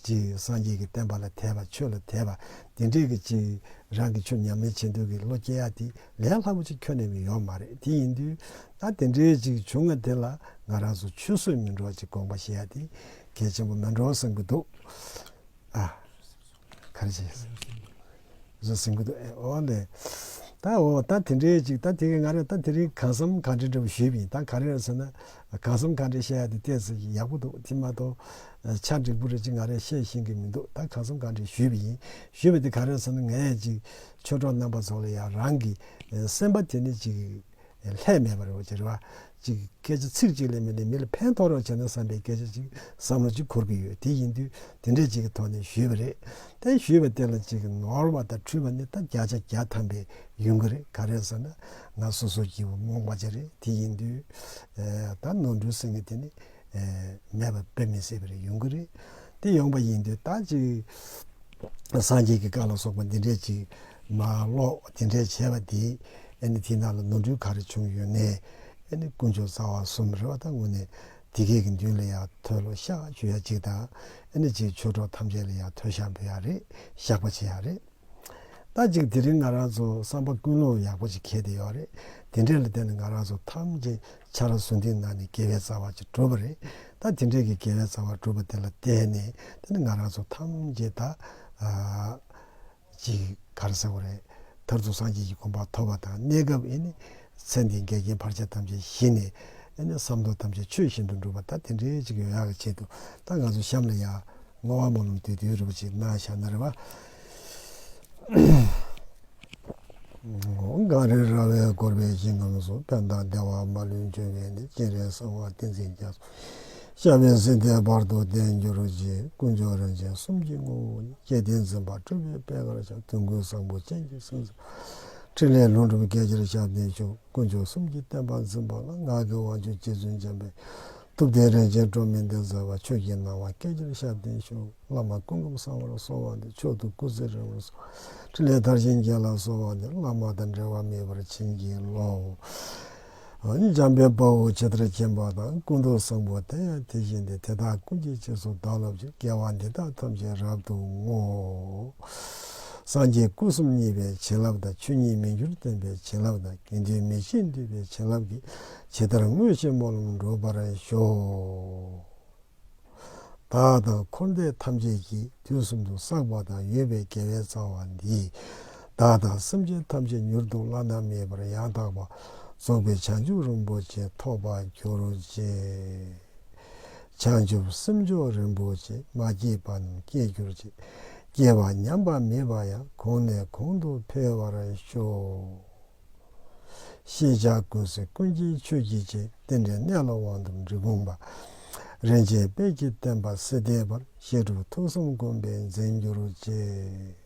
ཅིག་སངས་རྒྱས་ཀྱི་བསྟན་པ་ལ་དད་པ་ཆོས་ལ་དད་པ་འདི་འདྲས་ཀྱི་ཅིག་རང་གི་ཆོས་ཉམས་ལེན་བྱེད་འདོད་ཀྱི་བློ་སྐྱེ་ཡ་དེ་ལས་སླ་པོ་ཅིག་ཁྱོན་ནས་ནི་ཡོད་མ་རེད་དེ་ཡིན་དུས་ད་དེ་འདྲའི་ཅིག་བྱུང་ང་དེ་ལ་ང་རང་ཚོ་ཆུད་ཟོས་མི་འགྲོ་ཅིག་དགོངས་པ་བཞེས་ཡ་དེ་གལ་ཆེན་པོ་མི་འགྲོ་བསམ་གྱི་འདུག་ཨ། ག་རེ་བྱེད། བཟོད་སེམས་ཀྱི་འདུག་ཨེ་ཨོ་ལེ། ད་འོ་ད་དེ་འདྲའི་ཅིག་ད་དེ་ག་ང་རེད་ད་དེ་རིང་གང་བསམ་གང་དྲན་འདྲ་བོ་ཞུས་པ་ཡིན་ད་ག་རེ་རེད་ཟེར་ན་གང་བསམ་གང་དྲན་བཤད་ཡ་དེ་བལྟས་ཟེར་གྱི་ཡག་པོ་འདུག་དེ་མ་གཏོགས་ཆ་འགྲིག་པོ་རེད་ཅིག་ང་རེད་བཤད་ཤེས་ཀྱི་མི་འདུག་ད་གང་བསམ་གང་དྲན་ཞུས་པ་ཡིན་ཞུས་པ་དེ་ག་རེ་རེད་ཟེར་ན་ངས་ཅིག་ཆོས་གྲོགས་རྣམ་པ་ཚོ་ལ་ཡང་རང་གི་སེམས་པ་དེ་ནི་ཅིག་ལྷད་མེད་པར་རོ་ཅེས་ཅིག་སྐད་ཆ་ཚིག་གཅིག་ལས་མི་ལས་མི་ལ་ཕན་ཐོགས་རོགས་བྱས་ན་བསམ་པའི་སྐད་ཆ་ཅིག་བསམ་བློ་ཅིག་འཁོར་གྱི་ཡོད་དེ་ཡིན་དུས་དེ་འདྲས་ཅིག་གི་ཐོག་ནས་ཞུས་པ་རེད་དེ་ཞུས་པ་དེ་ལ་ཅིག་ནོར་བ་དང་འཁྲུལ་བ་ནི་ད་བརྒྱ་ཆ་བརྒྱ་ཐམ་པའི་ཡུན་གྱི་རེད་ག་རེད་ཟེར་ན་ང་སོ་སོ་སྐྱིད་པོ་རྨོངས་པ་ཅིག་རེད་དེ་ཡིན་དུས་ད་ནོར་འཁྲུལ་ཟེར་ངེས་དེ་ནི། མེད་པ་དཔེ་མི་སྲིད་པ་རེ་ཡོང་གི་རེད། དེ་ཡོང་པ་ཡིན་དུས་ད་ཅིག་སངས་རྒྱས་ཀྱི་བཀའ་ལ་སོགས་པ་འདི་འདྲས་ཅིག་མ་ཀློག་དེ་འདྲས་བྱས་པ་དེས་ཨ་ནི་དེ་ན་ལ་ནོར་འཁྲུལ་ག་རེ་བྱུང་ཡོད་ནས་ཨ་ནི་དཀོན་མཆོག་རྩ་བ་གསུམ་རེ་བ་ད་ངུ་ནས་དེ་སྐད་ཀྱི་མདུན་ལ་ཡང་མཐོལ་ལོ་བཤགས་བཅོས་ཡ་གཅིག་དང་ཨ་ནི་ཅིག་ཆོས་གྲོགས་ཐམས་ཅད་ལ་ཡང་མཐོལ་བཤགས་འབུལ་ཡ་རེད་བཤགས་པ་བྱེད་ཡ་རེད། ད་ཅིག་དེ་རིང་ང་རང་ཚོ་བསམ་པ་ཀུན་སློང་ཡག་པོ་ཅིག་གྱེས་བསྡད་ཡོད་རེད། དེ་འདྲའི་ལ་བརྟེན་ནས་ང་རང་ཚོ་ཐམས་ཅད་ཆར་ཟོས་འདིའི་ནང་ནས་དགེ་བའི་རྩ་བ་ཅིག་གྲུབ་པ་རེད། ད་དེ་འདྲའི་གི་དགེ་བའི་རྩ་བ་གྲུབ་པ་དེ་ལ་བརྟེན་ནས་དེ་ནི་ང་རང་ཚོ་ཐམས་ཅད་ད་ཅིག་གར་སོང་བ་རེད། མཐར་ཐུག་སངས་རྒྱས་ཀྱི་དགོངས་པ་ཐོབ་པ་དང་གནས་སྐབས་ཨེ་ནི་ཚེ་འདིའི་འགལ་རྐྱེན་བར་ཆད་ཐམས་ཅད་ཞི་ནས། བསམ་དོན་ཐམས་ཅད་ཆོས་བཞིན་དུ་འགྲུབ་པ་ད་དེ་འདྲའི་གཅིག་ཡོད་ཡག་གི་ཆེད་དུ་ད་ང་ཚོ་གཤམ་ལ་ཡག་བསྔོ་བ་སྨོན་ལམ་དུས་དེའི་རིན་པོ་ཆེའི་སྣང་ཞག་ན་རེ་བ། འགའ་རེ་ར་བའི་བསྐོར་བའི་ཞིང་ཁམས་སུ་དཔལ་དང་བདེ་བ་མ་ལུས་འབྱོན་པས་ནི་སྤྱན་རས་གསང་བ་ཏིང་འཛིན་རྒྱ་མཚོ་ཞབས་པད་སྲིད་མཐའི་བར་དུ་བརྟན་གྱུར་ཅིག་དཀོན་མཆོག་རིན་ཆེན་གསུམ་གྱི་ངོ་བོ་ཉིད་སྐལ་ལྡན་འཛིན་པ་སྤྲུལ་པའི་དཔལ་སྔར་བྱོན་དོན་ཀུན་བཟང་པོ་སྤྱན་གྱིས་གསུངས། ཕྲིན་ལས་ལྷུན་གྲུབ་རྒྱལ་གྱུར་ཞབས་བརྟན་ཆོས་དཀོན་མཆོག་གསུམ་གྱི་བསྟན་པ་འཛིན་པ་ལ་ངག་གི་དབང་ཕྱུག་རྗེ་བཙུན་འཇམ་པའི་ཐུགས་གཏེར་རིན་ཆེན་སྤྲོ་མེད་འདི་སྩོལ་བ་ཆོས་ཀྱི་སྣང་བ་སྐལ་གྱུར་ཞབས་བརྟན་མཆོག་བླ་མ་ཀུན་སྒོམ་གསང་བར་གསོལ་བ་འདི་མཆོག་ཏུ་སྐུ་ཚེ་རིང་བོར་གསོལ་བ་ཕྲིན་ལས་མཐར་ཕྱིན་རྒྱས་ལ་གསོལ་བ་འདི་བླ་མ་དང་འབྲལ་བ་མེད་པར་བྱིན་གྱིས་རློབས། འཇམ་དཔལ་དཔའ་བོ་ཇི་ལྟར་སྐྱེ་འཕགས་དང་སྐུ་མདོག་བཟང་པོ་དེ་ཡང་དེ་བཞིན་ཏེ་དེ་དག་ཀུན་གྱི་རྗེས་སུ་བདག་སློབ་ཅིང་སྐལ་བ་འདི་དག་ཐམས་ཅད་རབ་ཏུ་བསྔོ། སངས་རྒྱས་སྐུ་གསུམ་བརྙེས་པའི་བྱིན་རླབས་དང་ཆོས་ཉིད་མི་འགྱུར་སྟོན་པའི་བྱིན་རླབས་དང་དགེ་འདུན་མི་ཕྱེད་འདུས་པའི་བྱིན་རླབས་ཀྱིས་ཇི་ལྟར་བསྔོས་བྱས་སྨོན་ལམ་འགྲུབ་པར་ཤོག། བདག་དང་འཁོར་འདས་ཐམས་ཅད་ཀྱི་དུས་གསུམ་དུ་བསགས་པ་དང་ཡོད་པའི་དགེ་བའི་རྩ་བ་འདིས། བདག་དང་སེམས་ཅན་ཐམས་ཅད་མྱུར་དུ་བླ་ན་མེད་པར་ཡང་དག་པར་རྫོགས་པའི་བྱང་ཆུབ་རིན་པོ་ཆེ་ཐོབ་པར་གྱུར་ཅིག། བྱང་ཆུབ་སེམས་མཆོག་རིན་པོ་ཆེ་མ་སྐྱེས་པ་རྣམས་སྐྱེས་གྱུར་ཅིག། སྐྱེ་བ་ཉམས་པ་མེད་པ་ཡང་གོང་ནས་གོང་དུ་འཕེལ་བར་ཤོག། ཤེས་བྱ་ཀུན་གཟིགས་ཀུན་མཁྱེན་ཆོས་ཀྱི་རྗེ། རྟེན་འབྲེལ་གནས་ལ་དབང་དུ་འདུས་དགོངས་པ། རིན་ཆེན་དཔལ་གྱི་བསྟན་པ་སྲིད་ལྡན་པར། བཤད་སྒྲུབ་ཐུགས་གསུམ་བསྒོམ་པས་འཛིན་གྱུར་ཅིག།